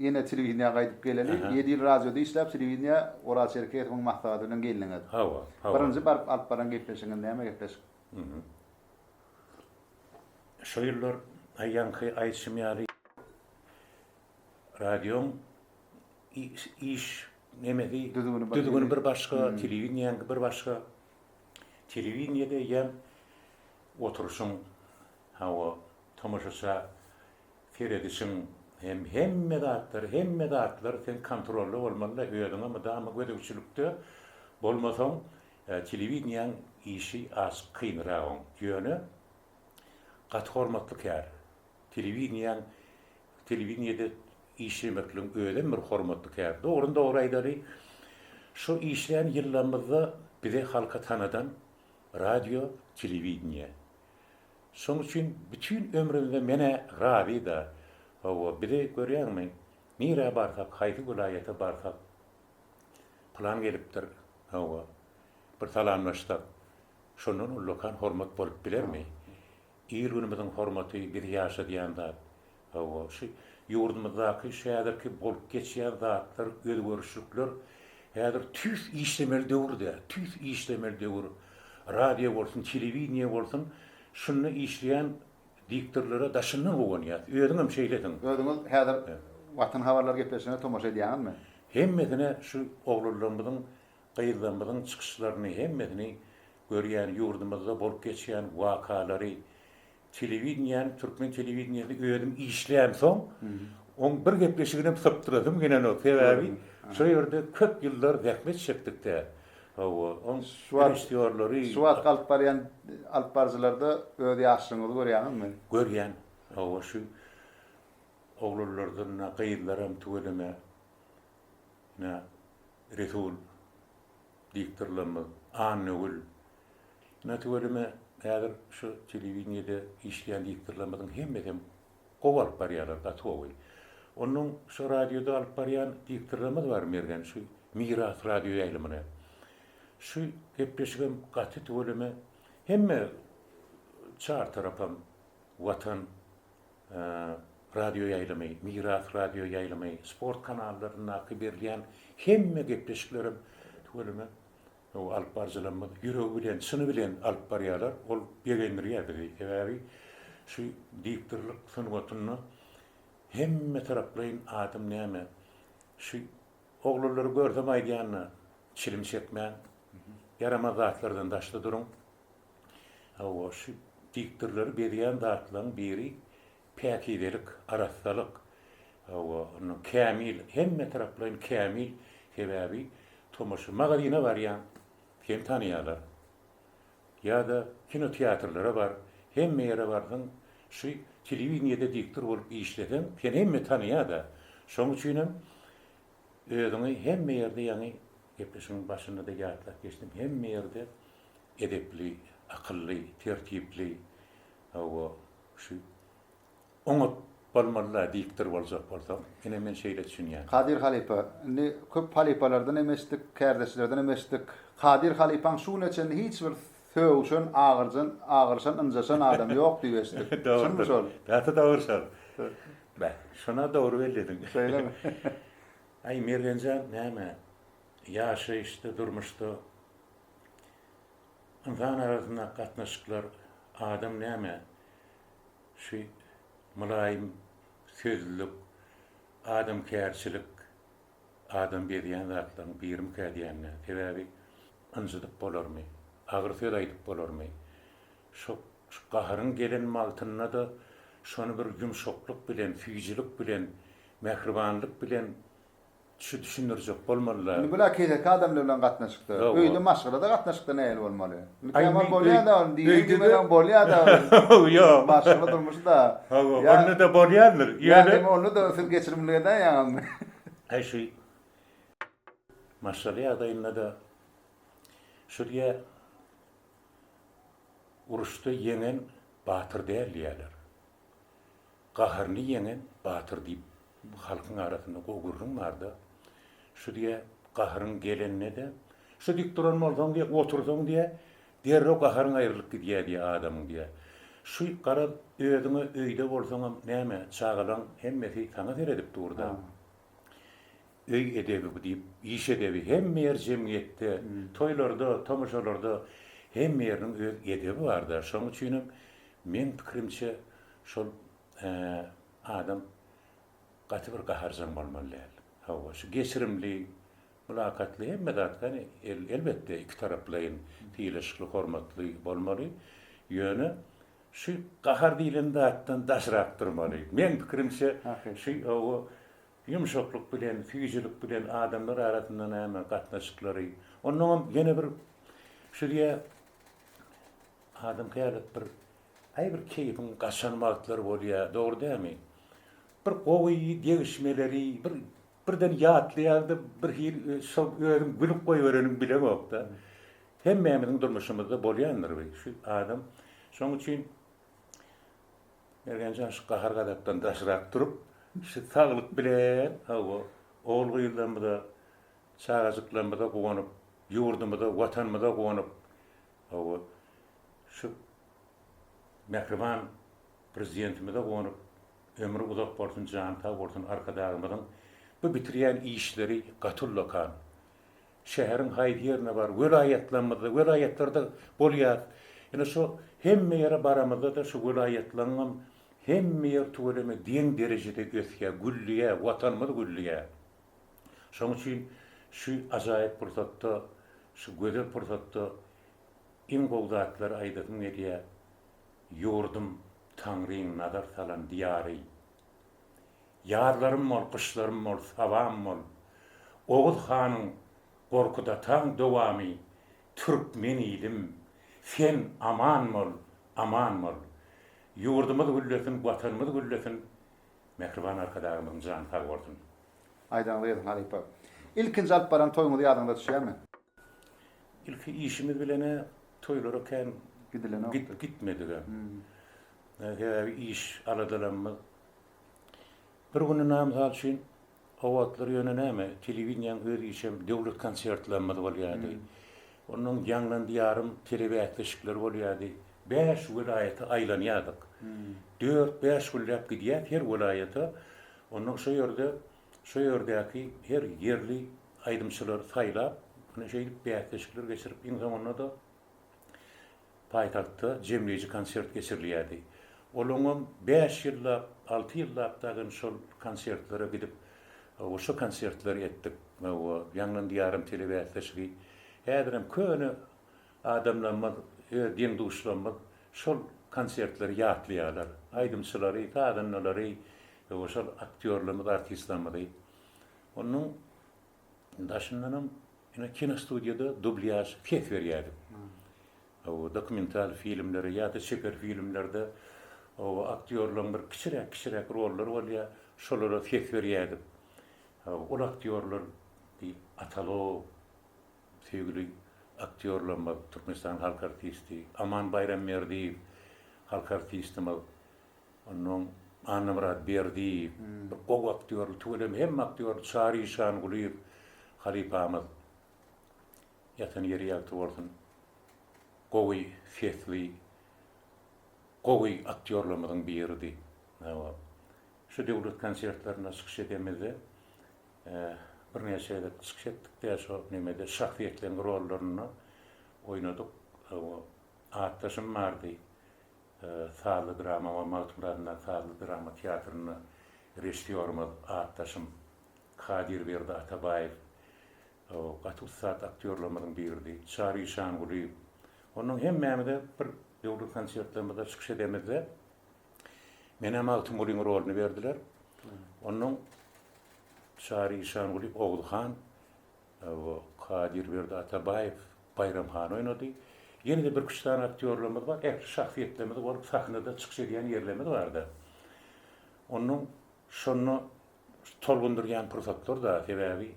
ýene telewideniýä gaýdyp geleli. Ýedi ýyl radioda işläp, telewideniýä Oraz Çerkesowyň maslahaty bilen geldiňiz. Hawa, hawa. Birinji baryp alyp baran gepleşigiňiz näme gepleşik? Şo ýyllar aýaňky aýdyşym ýaly. Radioň iş nemesi, düzgüni bir başga, telewideniýäňki bir başga. Telewideniýede eýýäm oturyşyň, hawa, tomaşaça, seredişiň hem hemme zatlar, hemme zatlar sen kontrolda bolmaly-da, özüňe mydama gözegçilikde bolmasaň, telewideniýäň işi az kynragoň. Ýöne gaty hormatly kär. Telewideniýäň telewideniýede işlemekligiň özem bir hormatly kär. Dogryny dogry aýdaly, şu işlän ýyllarymyzda bize halka tanadan radio, telewideniýe. Şoň üçin bütin ömrümde men-ä razy-da. Hawa, bizi görýäňmi, nirä barsak, haýsy welaýata barsak, pylan gelipdir, hawa, bir salamlaşsak, şondan ullakan hormat bolup bilermi? Ir günümiziň hormaty biz ýaşadýan zat. Hawa, şu ýurdumyzdaky şu häzirki bolup geçýän zatlar, özgerişlikler häzir tüýs işlemeli döwür-dä, tüýs işlemeli döwür. Radio bolsun, telewideniýe bolsun, şunda işleýän diktorlara daşyndan guwanýas. Özüňem şeýlesiň. Özüňiz häzir Watan habarlary gepleşigine tomaşa edýäňizmi? Hemmesine şu oglanlarymyzyň Gyzlarymyzyň çykyşlaryny hemmesini görýän ýurdumyzda bolup geçýän wakalary telewideniýäni türkmen telewideniýesini özüm işleýän soň oň bir gepleşiginem sypdyrasym gelenok sebäbi şo ýerde köp ýyllar zähmet çekdikdä hawa oň režissýorlary şu wagtky alyp barýan alyp baryjylarda öz ýaşlyňyzy görýäňizmi? Görýän hawa şu oglanlardan gyzlaram tüweleme Ine, Resul diktorlarymyz, Annagül. Ine, tüweleme häzir şu telewideniýede işleýän diktorlarymyzyň hemmesem gowy alyp barýarlar, gaty gowy. Onnoň şu radioda alyp barýan diktorlarymyz bar, Mergen, şu Miras radio ýaýlymyny. Şu gepleşigem gaty tüweleme hemme çar tarapam Watan radioýaýlymy, Miras radioýaýlymy, sport kanallaryndaky berilýän hemme gepleşiklerem tüweleme alyp baryjylarymyz ýüregi bilen, çyny bilen alyp barýarlar. Ol begendirýär bizi. Sebäbi şu diktorlyk sungatynda hemmetaraplaýyn adam näme, şu Oglanlary görsem aýdýanyna çilim çekmän, ýaramaz zatlardan daşda duruň. Hawa, şu diktorlary bezýän zatlaryň biri päkizelik, arassalyk. Hawa, ondan kämil, hemme taraplaýyn kämil. Sebäbi tomaşa, magazyna barýaň, seni tanaýarlar. ýa-da kinoteatrlara bar, hemme ýere barsaň, şu telewideniýede diktor bolup işleseň, seni hemme tanaýar-da. Şonuň üçinem özüňi hemme ýerde, ýaňy gepleşigiň başynda-da ýatlap geçdim, hemme ýerde edepli, akylly, tertipli, hawa, şu oňat bolmaly-la diktor boljak bolsaň. Ine men şeýle düşünýän. Kadyr halypa, indi köp halypalardan hem eşitdik, kärdeşlerden hem eşitdik. Kadyr halypaň şu güne çenli hiç bir sögüşen, agyrjan, agyryşan, ynjaşan adamy ýok diýip eşitdik. Çynmy şol? Gaty dogry şol. Beh, şona dogry bellediň. Şeýlemi? Aý Mergen jan, näme, ýaşaýyşda, durmuşda ynsan arasyndaky gatnaşyklar adam näme, Şu mylaýym sözlülik, adamkärçilik adam bezýän zatlaryň birimikä diýende, sebäbi ynjydyp bolarmy, agyr söz aýdyp bolarmy? Şo gaharyň gelen wagtynda-da şony bir ýumşaklyk bilen, süýjülik bilen, mähribanlyk bilen Şu düşündirjek bolmalyda. Indi bular keseki adamlar bilen gatnaşykda. Öýde maşgalada gatnaşykda nähili bolmaly? Mükemmel bolýada ol diýen gibi bilen bolýada ol. Ýok. Maşgala durmuşy-da. Hawa, onda-da bolýandyr. Ýöne onda-da siz geçirimli edäýýäňizmi? Aý şu maşgala ýagdaýynda-da şu diýýär, uruşda ýeňen batyr däl diýýärler. Gaharly ýeňen batyr diýip halkyň arasynda gowy gürrüň barda. Şu diýä, gaharyň gelende-de, Şu dik duran bolsaň diýä, otursaň diýä, derrew gaharyň aýrylyp gidýä diýä adamyň diýä. Şu garaz, özüň-ä öýde bolsaňam näme, çagalaň hemmesi saňa seredip dur-da. Öý edebi bu diýip, iş edebi hemme ýer jemgyýetde, toýlarda, tomaşalarda hemme ýeriniň öz edebi bar-da. Şonuň üçinem meň pikirimçe şol adam gaty bir gaharjaň bolmaly däl. Hawa, şu geçirimli, mylakatly hemme zat gani elbetde ikitaraplaýyn sylaşykly, hormatly bolmaly. Ýöne şu gahar diýlen zatdan daşrak durmaly. Meň pikirimçe şu hawa Ýumşaklyk bilen, süýjülik bilen adamlar arasynda näme gatnaşyklary. Onnoňam ýene bir şu diýe adam käbäp bir aý bir keýpiň gaçan wagtlary bolýa, dogry dämi? Bir gowy degişmeleri bir birden ýatlaýarda bir hil şol özüň gülüp goýbereniň bileňokda. Hemmämiziň durmuşymyzda bolýandyr bu şu adam. Şoň üçin Mergen jan şu gahar-gazapdan daşrak durup, şu saglyk bilen, hawa, ogul-gyzlarymyza, çagajyklarymyza guwanyp, ýurdumyza, Watanymyza guwanyp, hawa, şu mähriban Prezidentimize guwanyp, ömri uzak bolsun, jany sag bolsun Arkadagymyzyň bu bitirýän işleri gaty ullakan. Şäheriň haýsy ýerine bar, welaýatlarymyzda, welaýatlarda bolýas. Ýöne şu hemme ýere baramyzda-da şu welaýatlaňňam hemme ýer tüweleme geň derejede ösýä, gülleýä, Watanymyz gülleýä. Şoň üçin şu ajaýyp pursatda, şu gözel pursatda iň gowy zatlary aýdasym gelýä, Ýurdum, Taňryň nazar salan diýary. Ýazlarym bol, gyşlarym bol, sabam bol. Oguz hanyň Gorkut-ataň dowamy Türkmen ilim, sen aman bol, aman bol. Ýurdumyz güllesin, Watanymyz güllesin. Mähriban Arkadagymyzyň jany sag bolsun. Aýdaňyz gelsin halypa. Ilkinji alyp baran toýuňyz ýadyňyza düşýärmi? Ilki işimiz bilenä toýlara kän gitmedigä. Sebäbi iş aladalarymyz. Bir gününe, mysal üçin, o wagtlar ýöne näme, telewideniýäň öz işem döwlet konsertlerimiz bolýardy. Onnoň Ýaňlan Diýarym telebäsleşikleri bolýardy. Bäş welaýata aýlanýardyk. Dört-bäş günläp gidýär her welaýata. Onnoň şo ýerde, şo ýerdäki her ýerli aýdymçylary saýlap, ine, şeýdip bäsleşikler geçirip, iň soňunda-da Paýtagtda jemleýji konsert geçirilýärdi. Ol oňam bäş ýyllap, alty ýyllap dagyny şol konsertlere gidip, we şo konsertleri etdik. Hawa, ýaňlan diýarym telebäsleşigi häzirem köne adamlarymyz, öz deň-duşlarymyz şol konsertleri ýatlaýarlar. Aýdymçylary, sazandalary, we şol aktýorlarymyzy, artistlerimizi. Onuň daşyndanam ine kinostudiýada dublýaž ses berýärdik. Hawa, dokumental filmlere ýa-da çeper filmlerde hawa aktýorlaryň bir kiçiräk-kiçiräk rollary bolýar, şolara ses berýärdik. Hawa, ol aktýorlar bir Atalow söýgüli aktýorlarymyz, Türkmenistanyň halk artisti Aman Baýramberdiýew, halk artistimiz. Onnoň Annamyrat Berdiýew, bir gowy aktýordy, tüweleme hemme aktýordy, Çary Işangulyýew halypamyz, ýatan ýeri ýagty bolsun, gowy sesli, gowy aktýorlarymyzyň biridi. Hawa, şu döwlet konsertlerinde çykyş edemizde, birnäçe gezek çykyş etdik-de, şo nemede şahsyýetleriň rollarynda oýnadyk. Hawa, atdaşym bardy. Sazly drama we Magtymgulyadyndaky sazly drama teatrynda režissýorymyz, atdaşym Kadirberdi Atabaýew gaty ussat aktýorlarymyzyň biridi. Çary Işangulyýew. Onnoň hemmämize bir döwri konsertlerimizde çykyş edemizde menä Magtymgulyň rolyny berdiler. Onnoň Çary Işangulyýew Oguzhan Kadyrberdi Atabaýew Baýram hany oýnady. Ýene-de bir üç sany aktýorlarymyz bar. Ähli şahsyýetlerimizi görüp sahnada çykyş edýän ýerlerimiz bar-da. Onnoň şonda tolgundyrýan pursatlar-da, sebäbi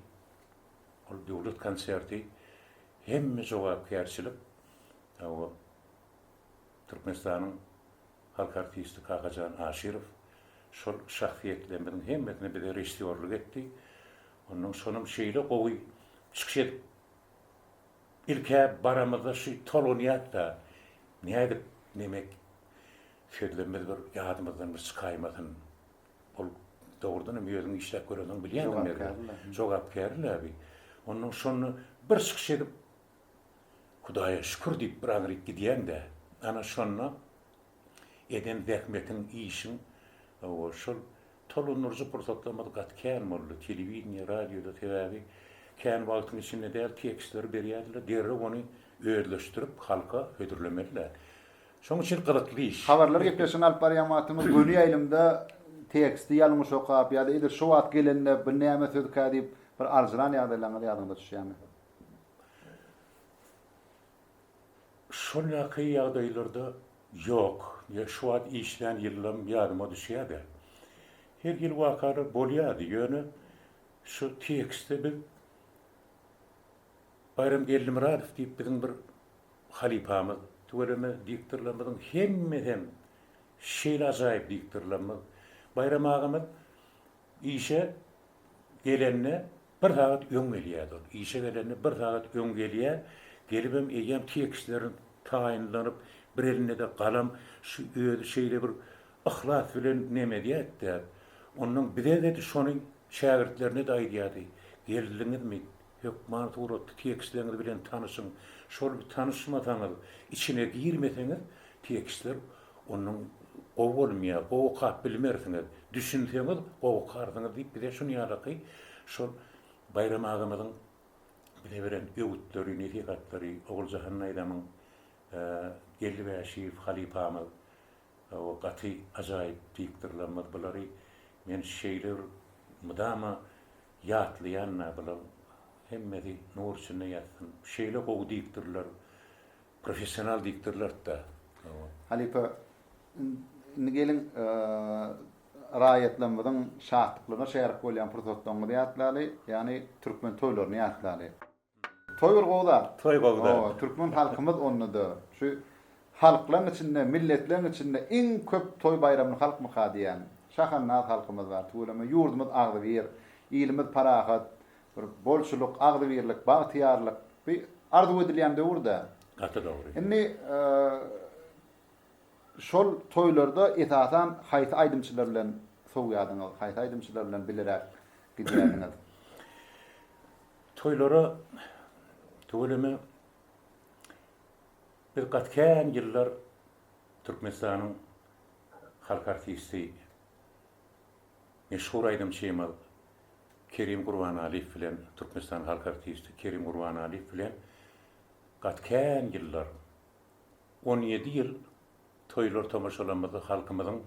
ol döwlet konserti hemme jogapkärçilik Türkmenistanyň halk artisti Kakajan Aşyrow şol şahsyýetlerimiziň hemmesine bize režissýorlyk etdi. Onnoň sonam şeýle gowy çykyş edip ilk-ä baramyzda şy tolgunýas-da, nädip nemek sözlemmiz bir ýadymyzdan bir çykaýmasyn. Ol dogrudanam özüň işläp görensoň bilýäňmi Mergen? Jogapkärli-le. Jogapkärli-le bi. Onnoň şonda bir çykyş edip Hudaýa şükür diýip bir aňryk gidýäň-dä. Ana şonda eden zähmetiň, işiň, hawa, şol Tolundyryjy pursatlarymyz gaty kän boldy, telewideniýe, radioda, sebäbi kän wagtyň içinde däl tekstleri berýärdiler, derrew ony özleşdirip halka hödürlemelidiler. Şonuň üçin gyzykly iş. Habarlar gepleşigini alyp barýan wagtymyz göni ýaýlymda teksti ýalňyş okap ýa-da edil şu wagt gelende bu näme sözkä diýip bir aljyran ýagdaýlaryňyz ýadyňyza düşýärmi? Şol ýaky ýagdaýlarda ýok. Ýa şu wagt işlän ýyllym ýadyma düşýä-de. Her hili wakalar bolýardy, ýöne şu tekstde biz Baýram Geldimyradow diýip biziň bir halypamyz, tüweleme diktorlarymyzyň hemmesem şeýle ajaýyp diktorlarymyz, Baýram agamyz Işe gelende bir sagat öň gelýärdi ol. Işe gelende bir sagat öň gelýär. Gelibem eýýäm tekstlerini taýynlanyp, bir elinde-de galam, şu özi şeýle bir yhlas bilen neme edýärdi-de, onnoň bize-de şony şägirtlerine-de aýdýardy, Geldiňizmi? Hökman suratly tekstleňiz bilen tanyşyň, şol tanyşmasaňyz, içine girmeseňiz tekstler ondan gowy bolmýar, gowy okap bilmersiňiz, düşünseňiz gowy okarsyňyz diýip bize şun ýadaky şol Baýram agamyzyň bize beren öwütleri, nesihatlary, Oguljahan daýzamyň, Geldi Bäşiýew halypamyz Hawa gaty ajaýyp diktorlarymyz bulary men şeýle bir mydama ýatlaýanda bular hemmesi nur içinde ýatsyn şeýle gowy diktorlar professional diktorlartda hawa. Halypa indi geliň raýatlarymyzyň şatlyklygyna şärik bolýan pursatlaryňyzy ýatlaly ýagny türkmen toýlaryny ýatlaly. Toý bir gowy zat. Toý gowy zat. Hawa, türkmen halkymyz onda-da şu halklaň içinde, milletleň içinde iň köp toý-baýramly halkmyka diýýän şahannaz halkymyz bar. Tüweleme ýurdumyz agzybir, ilimiz parahat, bir bolçulyk, agzybirlik, bagtyýarlyk bi arzuw edilýän döwür-dä. Gaty dogry. Indi şol toýlarda esasan haýsy aýdymçylar bilen sowýadyňyz, haýsy aýdymçylar bilen bileräk gidýärdiňiz? Toýlara tüweleme biz gaty kän ýyllar Türkmenistanyň halk artisti, meşhur aýdymçymyz Kerim Gurbanaliýew bilen, Türkmenistanyň halk artisti Kerim Gurbanaliýew bilen gaty kän ýyllar On ýedi ýyl toýlar-tomaşalarymyzy halkymyzyň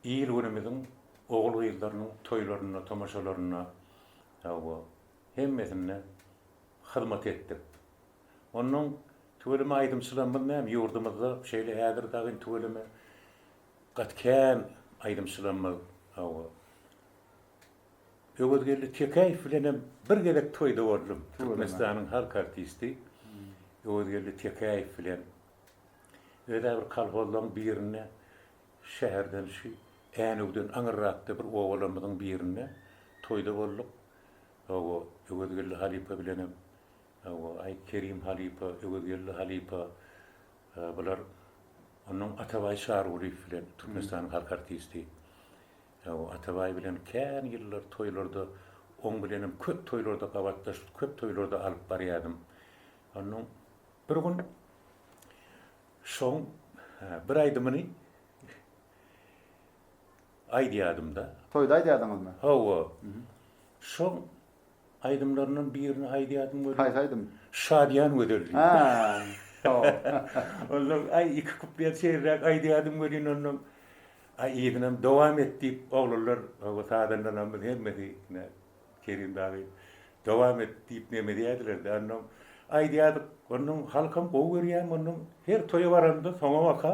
il-günümiziň ogul-gyzlarynyň toýlarynda, tomaşalarynda, hawa, hemmesinde hyzmat etdik. Onnoň tüweleme aýdymçylarymyz näme, ýurdumyzda şeýle häzir dagy tüweleme gaty kän aýdymçylarymyz, hawa. Öwezgeldi Tekäýew bilen hem bir gezek toýda boldum. Türkmenistanyň halk artisti Öwezgeldi Tekäýew bilen öz-ä bir kolhozlaryň birinde şäherden şu Änewden aňyrrakda bir obalarymyzyň birinde toýda bolduk. Hawa, Öwezgeldi halypa bilen hem, hawa, aý, Kerim halypa, Öwezgeldi halypa, bular onnoň Atabaý Çarygulyýew bilen, Türkmenistanyň halk artisti. Ýa-o, Atabaý bilen kän ýyllar toýlarda, oň bilenem köp toýlarda gabatdaş, köp toýlarda alyp barýadym. Onnoň bir gün şoň bir aýdymyny aýdýadym-da. Toýda aýdýadyňyzmy? Hawa. Şoň. Aýdymlaryndan birini aýdýardym welin. Haýsy aýdym? Şadyýan gözel diýip. Hä. Onsoň aý iki kuplet seýrräk aýdýardym welin onsoň aý yzynam dowam et diýip oglanlar oba sazandanamyz hemmesi ine Kerim dagy dowam et diýip neme edýärdiler-de onsoň aýdýardyk onsoň halkam gowy görýärmi onsoň her toýa baranda soňabaka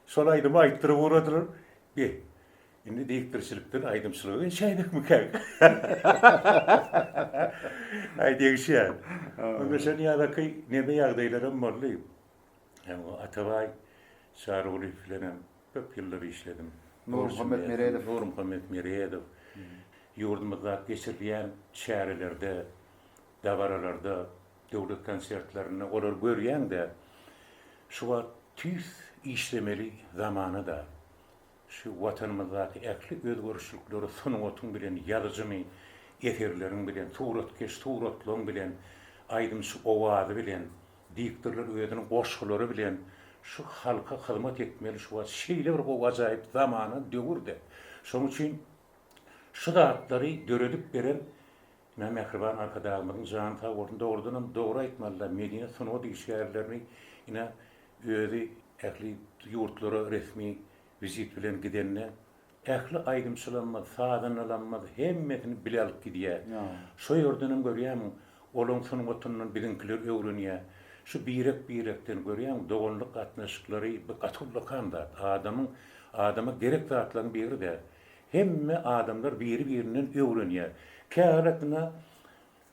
şol aýdymy aýtdyryp ugradylar be. Indi degişdirişilikden aýdymçylyga geçäýdikmikä? Aý degişýär. Onda şol ýadaky nebe ýagdaýlaram boldy. Hem Atabaý Çarygulyýew bilenem köp ýyllar işledim. Nurmuhammet Meredow. Nurmuhammet Meredow. Ýurdumyzda geçirilýän çärelerde, dabaralarda, döwlet konsertlerinde olary görýäň-de, şu wagt tüýs işlemeli zamana-da. Şu Watanymyzdaky ähli özgerişlikleri sungatyň bilen, ýazyjyny eserleriň bilen, suratkeş suratlaň bilen, aýdymçy owazy bilen, diktorlar özüniň goşgulary bilen şu halka hyzmat etmeli şu wagt şeýle bir gowy ajaýyp zamana döwürde. Şoň üçin şu zatlary döredip beren Ina mähriban Arkadagymyzyň jany sag bolsun dogrudanam dogry aýtmalyda medeniýet sungat işgärlerini ina özi ähli ýurtlara resmi wizit bilen gidende ähli aýdymçylarymyz sazandalarymyz hemmesini bile alyp gidýä şo ýerdenem görýämiň olaň sungatyndan biziňkiler öwrenýä şu birek birekden görýäň doganlyk gatnaşyklary bu gaty ullakan zat adamyň adama gerek zatlaryň biri däl. Hemme adamlar biri-birinden öwrenýär. Käwelatyna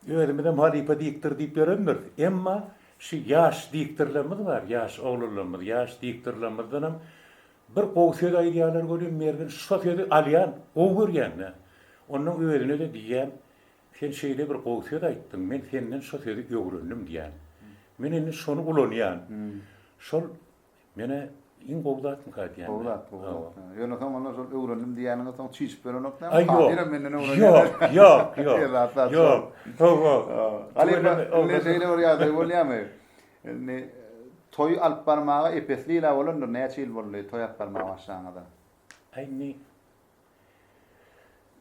özümizem halypa diktor diýip ýörendiris. Emma şu ýaş diktorlarymyz bar, ýaş oglanlarymyz, ýaş diktorlarymyzdanam bir gowy söz aýdýarlar welin, Mergen şo sözi alýan, gowy görýän-dä. Onnoň özüne-de diýýän, Sen şeýle bir gowy söz aýtdyň, men senden şo sözi öwrendim diýýän. Men indi şony ulanýan. Şol Menä iň gowy zatmyka aýdýan. Gowy zat, gowy zat. Ýöne soň onda şol öwrendim diýýäniňiz soň çişip berenokdamy? Hatirem menden öwrenýärler. Ýok, ýok, ýok. Ýok, ýok. Halypa, indi şeýle bir ýagdaý bolýamy? Indi toý alyp barmaga epesli ýyla bolandyr, näçe ýyl boldy toý alyp barmaga başlanyňyza? Indi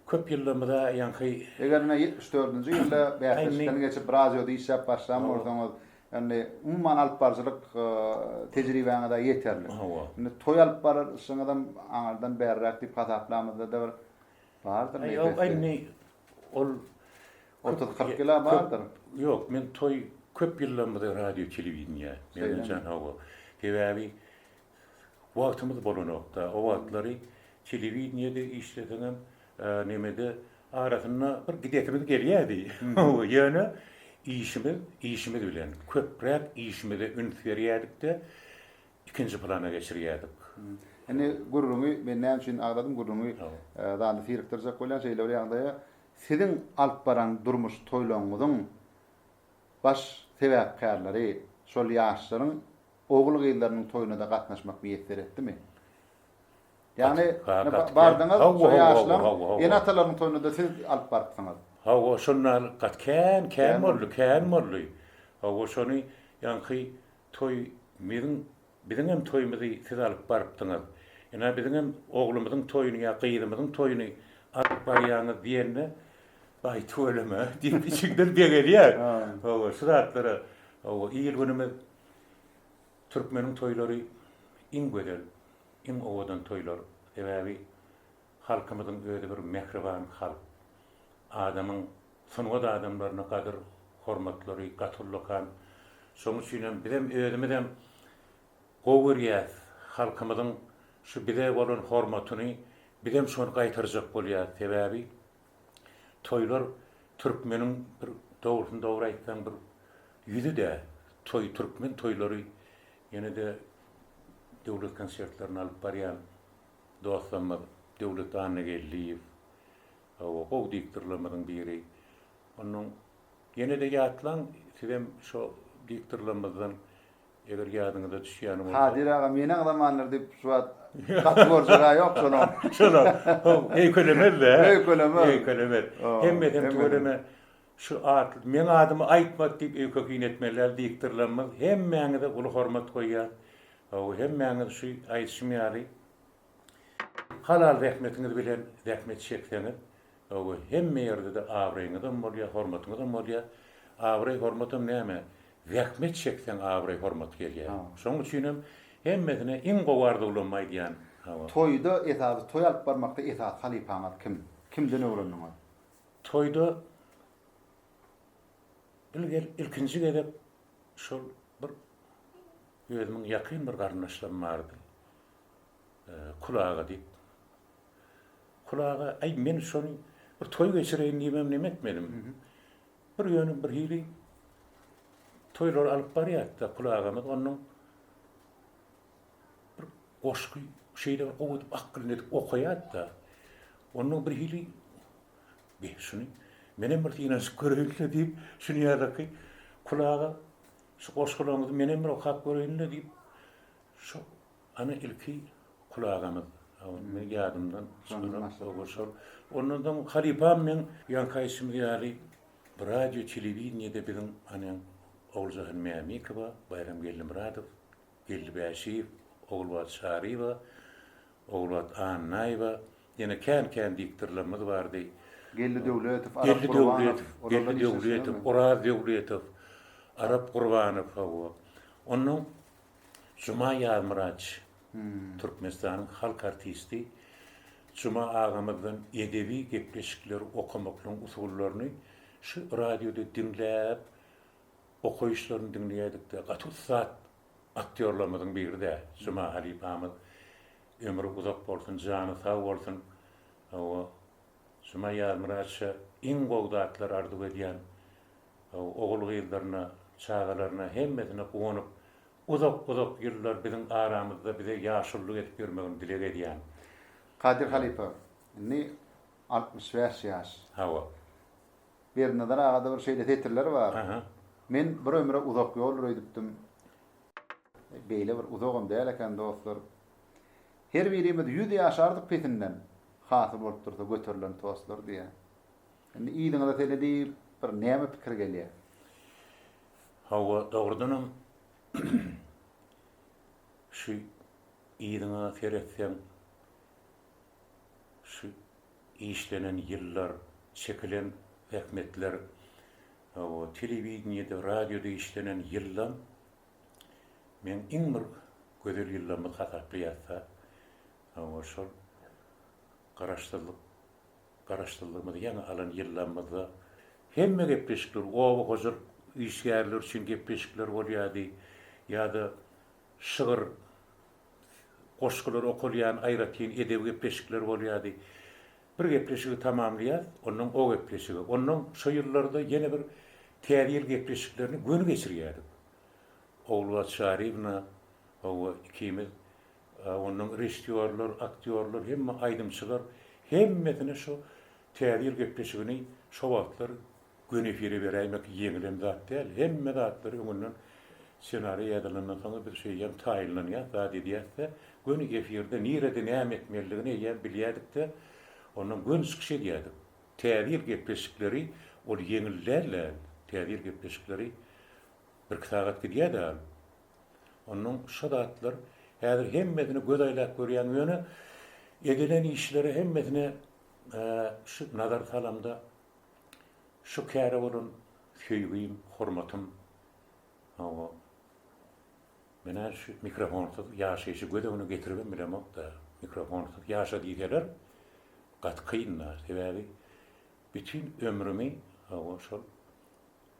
Köp ýyllarymyza ýaňky. Eger ine ýetmiş dördünji ýylda bäsleşikden geçip radioda işläp başlan bolsaňyz, indi umuman alypbaryjylyk tejribäňiz-ä ýeterlik. Indi toý alyp baryşyňyzam aňyrdan bäriräk diýip hasaplamyzda-da bir bardyr nebesi. Ýok, indi ol otuz-kyrk ýyl-a bardyr. Ýok, men toý köp ýyllarymyza radio-telewideniýä, Mergen jan, hawa. Sebäbi Wagtymyz bolanokda, o wagtlary telewideniýede işleseňem, nemede arasynda bir gidesimiz gelýärdi. Ýöne işimiz, işimiz bilen, köpräk işimize üns berýärdik-de, ikinji plana geçirýärdik. Indi gürrüňi, men näme üçin agzadym gürrüňi zada syrykdyrjak bolýan, şeýle bir ýagdaýa, siziň alyp baran durmuş toýlaryňyzyň baş sebäpkärleri şol ýaşlaryň Ogul-gyzlarynyň toýuna-da gatnaşmak miýesser etdimi? Ýagny, bardyňyz, şo ýaşlaň ene-atalarynyň toýuna-da siz alyp barypsyňyz. Hawa, şonda gaty kän, kän boldy, kän boldy. Hawa, şony ýaňky toý biziň, biziňem toýumyzy siz alyp barypdyňyz. Ine, biziňem oglumyzyň toýuny ýa gyzymyzyň toýuny alyp barýaňyz diýende, Aý, tüweleme, diýip, içiňden begenýär. Hawa, şu zatlara, hawa, il-günümiz Türkmeniň toýlary iň gözel, iň owadan toýlar. Sebäbi halkymyzyň özi bir mähriban halk. Adamyň, sungat adamlaryna gadyr, hormatlary gaty ullakan. Şonuň üçin hem bizem özümizem gowy görýäs. Halkymyzyň şu bize bolan hormatyny bizem şony gaýtarjak bolýas. Sebäbi Toýlar türkmeniň bir dogrusyny dogry aýtsaň bir ýüzi däl. Toý türkmen toýlary ýene-de döwlet konsertlerini alyp barýan dostlarymyz Döwlet Annageldiýew hawa gowy diktorlarymyzyň biri. Onuň ýene-de ýatlaň sizem şo diktorlarymyzdan Eger ýadyňyza düşýän bolsa. Kadyr aga meniň zamanlar diýip şu wagt gaty görjeg-ä ýok şolam. Şolam. Haw, öýkelemez-dä. Öýkelemez. Öýkelemez. Hemmesem tüweleme şu at, meň adymy aýtmak diýip öýke-kyn etmezler, diktorlarymyz. Hemmäňize uly hormat goýýas. Haw, hemmäňiz şu aýdyşym ýaly Halal zähmetiňiz bilen zähmet çekseňiz, oý, hemme ýerde-de abraýyňyzam bolýar, hormatyňyzam bolýar. Abraý-hormatam näme, zähmet çekseň abraý-hormat gelýär. Şonuň üçin hem hemmesine iň gowy arzuwlarymy aýdýan. Hawa. Toýda esasy, toý alyp barmakda esasy halypaňyz kim? Kimden öwrendiňiz? Toýda il-gel ilkinji gezek şol bir özümiň ýakyn bir garyndaşlarym bardy. Kulaga diýip. Kulaga, aý, men şony bir toý geçireýin diýibem neme etmedim. Bir ýöne birhili toýlar alyp barýardy-da Kulagamyz, onuň bir goşgy şeýle bir gowy edip akgynly edip okaýardy-da. Onda birhili, Be, şuny menem bir synanyşyp göreýin-le diýip, şunyýalyky Kulaga, şu goşgularyňyzy menem bir okap göreýin-le diýip, şo Ana ilki kulagymyz men ýadymdan çykaryp ondan soň halypam meň ýaňky aýtşymyz ýaly bir radio telewideniýede biziň ane Oguljahan Mämikowa Baýram Geldimyradow Geldi Bäşiýew Ogulbat Çaryýewa Ogulbat Annaýewa ýene kän kän diktorlarymyz bardy Geldi Döwletow Arap Gurbanow Geldi Döwletow Oraz Döwletow Arap Gurbanow hawa ondan Juma Ýazmyraç Türkmenistanyň halk artisti Juma agamyzdan edebi gepleşikleri okamaklygyň usullaryny şu radioda diňläp okaýyşlaryny diňleýädikde gaty ussat aktýorlarymyzyň biri-dä Juma halypamyz ömri uzak bolsun jany sag bolsun hawa Juma Ýazmyraça iň gowy zatlar arzuw edýän Ogul-gyzlaryna, çagalaryna, hemmesine guwanyp, uzak-uzak ýyllar biziň aramyzda bize ýaşullyk edip ýörmegini dileg edýän. Kadyr halypa, indi altmyş bäş ýaş. Hawa. Berdinazar agada bir şeýle setirler bar. Aha. Men bir ömre uzak ýoldur öýdüpdim. Beýle bir uzagam däl eken, dostlar. Her birimiz ýüz ýaşardyk pesinden, hasyl bolup dursa göterilen tostlar diýýär. Indi yzyňyza seredip, bir näme pikir gelýär? Hawa, dogrudanam, şu yzyňa seretseň, şu işlenen ýyllar, çekilen zähmetler, hawa, telewideniýede, radioda işlenen ýyllam meň iň bir gözel ýyllamy hasaplaýarys-a. Hawa, şol Garaşsyzlyk Garaşsyzlygymyzy ýaňy alan ýyllarymyzda hemme gepleşikler oba hojalyk işgärleri üçin gepleşikler bolýardy ýa-da şygyr, goşgular okalýan aýratyn edebi gepleşikler bolýardy. Bir gepleşigi tamamlaýas, ondan o gepleşige, ondan şo ýyllarda ýene bir Täze ýyl gepleşiklerini göni geçirýärdik. Ogulbady Çaryýewna, hawa, ikimiz Onnoň režissýorlar, aktýorlar, hemme aýdymçylar hemmesine şu Täze ýyl gepleşigini şo wagtlar göni efire beräýmek ýeňilen zat däl. Hemme zatlary öňünden ssenariý ýazylandan soň biz şeýdýän taýynlanýas, zat edýäs-de, göni efirde nirede näme etmelidigini eýýäm bilýädik-de, onnoň göni çykyş edýädik. Täze ýyl gepleşikleri ol ýeňil däl-de, Täze ýyl gepleşikleri birki sagat gidýär-de, Onnoň şo zatlar häzir hemmesini göz aýlap görýän ýöne edilen işleri hemmesini şu nazar salamda şu käre bolan söýgim, hormatym hawa menä şu mikrofonsyz ýaşaýşy göz öňüne getiribem bilemokda. Mikrofonsyz ýaşa diýseler gaty kynda. Sebäbi bütin ömrümi hawa şol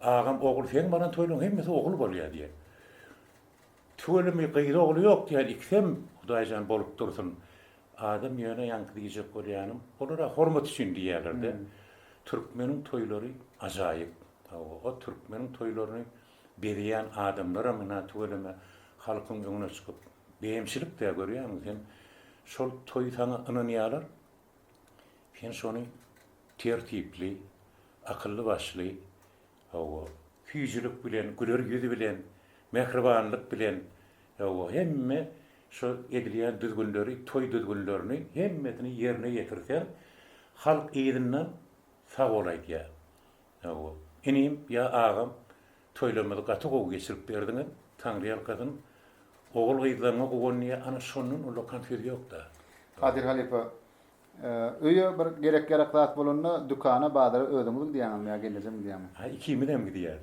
Agam ogul seň baran toýlaň hemmesi ogul bolýa diýen. Tüweleme gyz ogly ýok diýen ikisem hudaýjan bolup dursun. Adam ýöne ýaňky diýjek bolýanym olara hormat üçin diýýälerde. Türkmeniň toýlary ajaýyp. Hawa o türkmeniň toýlaryny bezeýän adamlaram ynha tüweleme halkyň öňüne çykyp beýemçilik dä görýäňmi sen şol toý saňa ynanýalar Sen şony tertipli, akylly-başly, hawa, süýjülik bilen, güler ýüz bilen, mähribanlyk bilen, hawa, hemme şu edilýän düzgünleri, toý düzgünlerini hemmesini ýerine ýetirseň, halk yzyndan sag bol aýdýar. Hawa, inim ýa agam, Toýlarymyzy gaty gowy geçirip berdiňiz Taňryýalkasyn ogul gyzlaryňa guwanýa ana şondan ullakan söz ýokda. Kadyr halypa öýe bir gerek ýarak zat bolanda dükana bazara özüňiz gidýäňizmi ýa gelnejem gidýämi. Ha ikimizem gidýäs.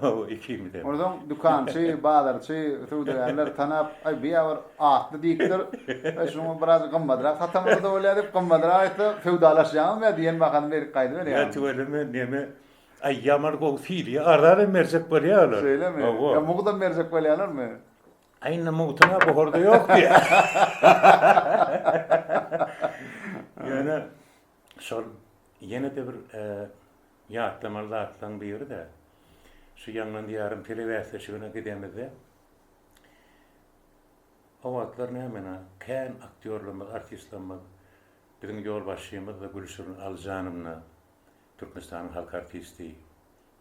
Hawa ikimizem. Onsoň dükançy, bazarçy, söwdagärler tanap aý bu ýa bir atly diýipdir. Aý şuňa biraz gymmadrak satamyzda bolýa diýip gymmadrak aýtsa söwdalaşýaňyzmy ýa diýen bahasyny berip gaýdyberýäňizmi. Ýa tüweleme neme Aý ýaman gowy siliýa arzanam berjek bolýa olar. Şeýlemi? Hawa. Ýa mugtdam berjek bolýalarmy? Aý indi mugtuna buhurda ýok diýýa. Ýöne şol ýene-de bir ýatlamaly zatlaryň biri-de şu ýaňlan diýýärin telebäsleşigine gidemizde o wagtlar nämena kän aktýorlarymyz, artistlerimiz biziň ýolbaşçymyz-da Gülşirin Alyjanowna Türkmenistanyň halk artisti,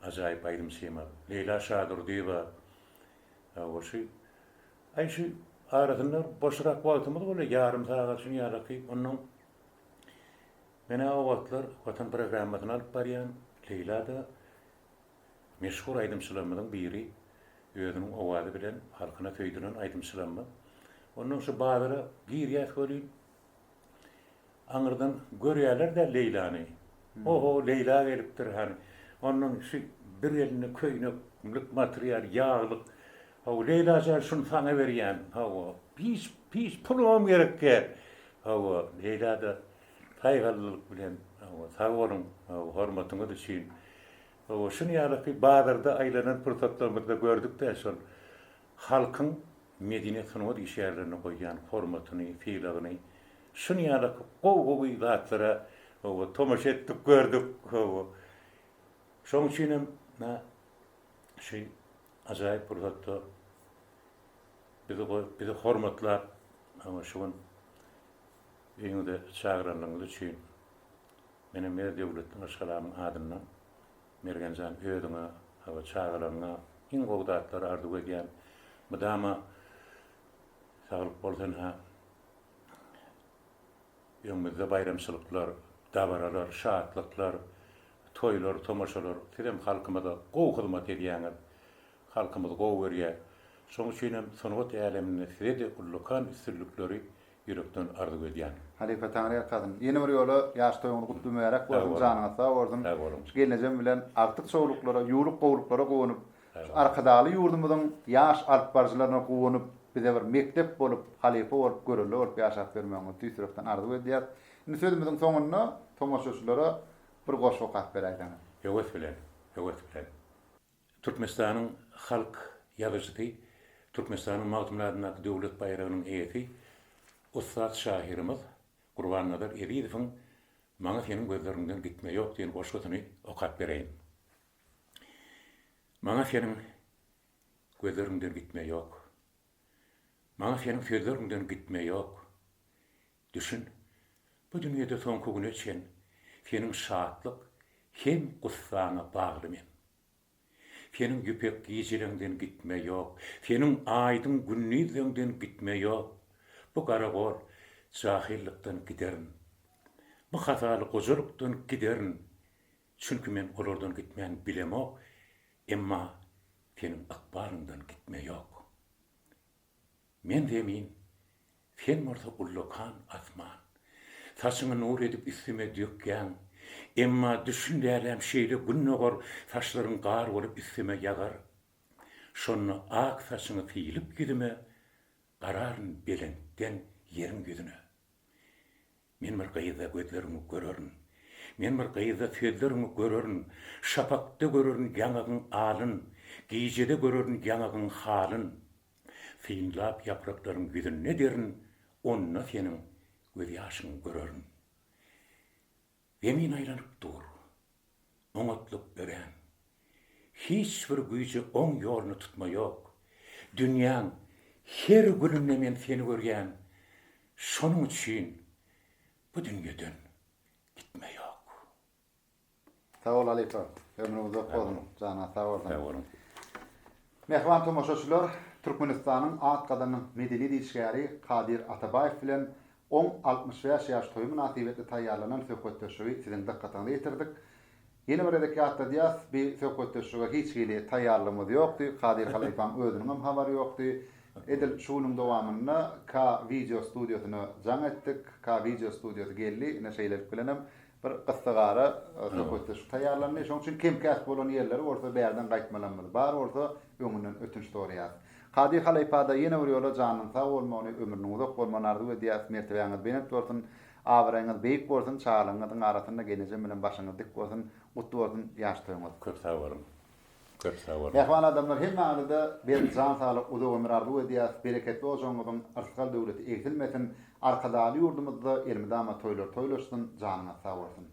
ajaýyp aýdymçymyz Leýla Şadurdyýewa goşy aýşy arasynda boşrak wagtymyz bolýar, ýarym sagat üçin ýa-da-ki onnoň Men-ä o wagtlar Watan programmasyny alyp barýan, Leýla-da meşhur aýdymçylarymyzyň biri, özüniň owazy bilen halkyna söýdülen aýdymçylarymyz. Onnoň şu bazara girýäs welin, Aňyrdan görýärler-de Leýlany. Ho-ho, Leýla gelipdir hany. Ondan şu bir elinde köýnek lykmatyr ýaly ýaglyk. Hawa, Leýla jan, şuny saňa berýän. Hawa, hiç, hiç pulumam gerek däl. Hawa, Leýla-da saýgallylyk bilen, Hawa, sag boluň, hawa, hormatyňyz üçin. Hawa, şuny ýalyky bazarda aýlanan pursatlarymyzda gördük-dä şol halkyň medeniýet-sungat işgärlerine goýýan hormatyny, sylagyny. Şun ýaly gowy gowy zatlara owo tomaşa etdik gördük owo şoň üçin hem na şu ajaýyp pursatda bizi goýup bizi hormatlap owo şu gün öýüňize çagyranlygyňyz üçin menem Mer Döwletli maşgalamyň adyndan Mergenjan özüňe owo çagalaryňa iň gowy zatlary arzuw edýän mydama saglyk bolsun ha. Öňümizde baýramçylyklar, dabaralar, şatlyklar, toýlar, tomaşalar. Sizem halkymyza gowy hyzmat edýäňiz. Halkymyz gowy görýä. Şoň üçin hem sungat äleminde size-de ullakan üstünlikleri ýürekden arzuw edýän. Halypa Taňry ýalkasyn. Ýene bir ýola ýaş toýuňyz gutly mübärek bolsun, janyňyz sag bolsun. Sag boluň. Gelnejem bilen agtyk çowluklara, ýuwluk gowluklara guwanyp, Şu Arkadagly ýurdumyzyň ýaş alyp baryjylaryna guwanyp, bize bir mekdep bolup, halypa bolup, görelde bolup ýaşap ýörmegiňizi tüýs ýürekden arzuw edýäris. Indi sözümiziň soňunda tomaşaçylara bir goşgy okap beräýseňiz. Höwes bilen, höwes bilen. Türkmenistanyň halk ýazyjysy, Türkmenistanyň Magtymguly adyndaky Döwlet baýragynyň eýesi, ussat şahyrymyz Gurbannazar Ezizowyň Maňa seniň gözleriňden gitme ýok diýen goşgusyny okap bereýin. Maňa seniň gözleriňden gitme ýok. Maňa seniň sözleriňden gitme ýok. Düşün, bu dünýede soňky güne çen seniň şatlyk hem gussaňa bagly men. Seniň ýüpek gijeleňden gitme ýok, seniň aýdyň gündizleňden gitme ýok. Bu garagol jahylykdan giderin. Bu hazaly gojalykdan giderin. Çünki men olardan gitmäni bilemok, emma Seniň ykbalyňdan gitme ýok. Men zemin, Sen bolsa ullakan asman. Saçyňy nur edip üstüme dökýäň, emma düşün däläm şeýle gün dogar, saçlaryň gar bolup üstüme ýagar. Şonda ak saçyňy sylyp ýüzüme, Gararyn belentden ýeriň ýüzüne. Men bir gyzda gözleriňi görerin, Men bir gyzda sözleriňi görerin, Şapakda görerin ýaňagyň alyn, Gijede görerin ýaňagyň halyn. Synlap ýapraklaryň ýüzünde derin, Onda seniň gözýaşyňy görerin. Zemin aýlanyp dur. Oňatlyk örän. Hiç bir güýje oň ýoluny tutma ýok. Dünýäň her gülünde men seni görýän. Şonuň üçin bu dünýeden gitme ýok. Sag bol halypa. Ömrüň uzak bolsun. Jana sag bolsun. Sag boluň. Mähriban tomaşaçylar Türkmenistanyň Ak gazanyň medeni diýişgäri Kadyr Atabaýew bilen oň altmyş bäş ýaş toýy mynasybetli taýýarlanan söhbetdeşligi siziň dykgatyňyza ýetirdik. Ýene bir gezek ýatladýas, bi söhbetdeşlige hiç hili taýýarlygymyz ýokdy, Kadyr halypaň özüniňem habary ýokdy. Edil şu günüň dowamynda K-Video studiýasyna jaň etdik. K-Video studiýasy geldi, ine şeýlelik bilenem Bir gyssagara söhbetdeşlik taýýarlandy. Şonuň üçin kem-käs bolan ýerleri bolsa bärden gaýtmalarymyz bar bolsa öňünden ötünç soraýas. Kady halypada ýene bir ýola janynyň sag bolmagyny, ömrüniň uzak bolmagyny arzuw edýäs. Mertebäňiz belent bolsun. Abraýyňyz beýik bolsun. Çagalygyňyzyň arasynda genejem bilen başyňyz dik bolsun. Gutly bolsun ýaş toýuňyz. Köp sag boluň. Köp sag boluň. Mähriban adamlar hemmäňizede berk jan saglyk uzak ömür arzuw edýäs bereketli ojagyňyzyň yrsgal döwleti egsilmesin Arkadagly ýurdumyzda elmydama toýlar toýlaşsyn janyňyz sag bolsun.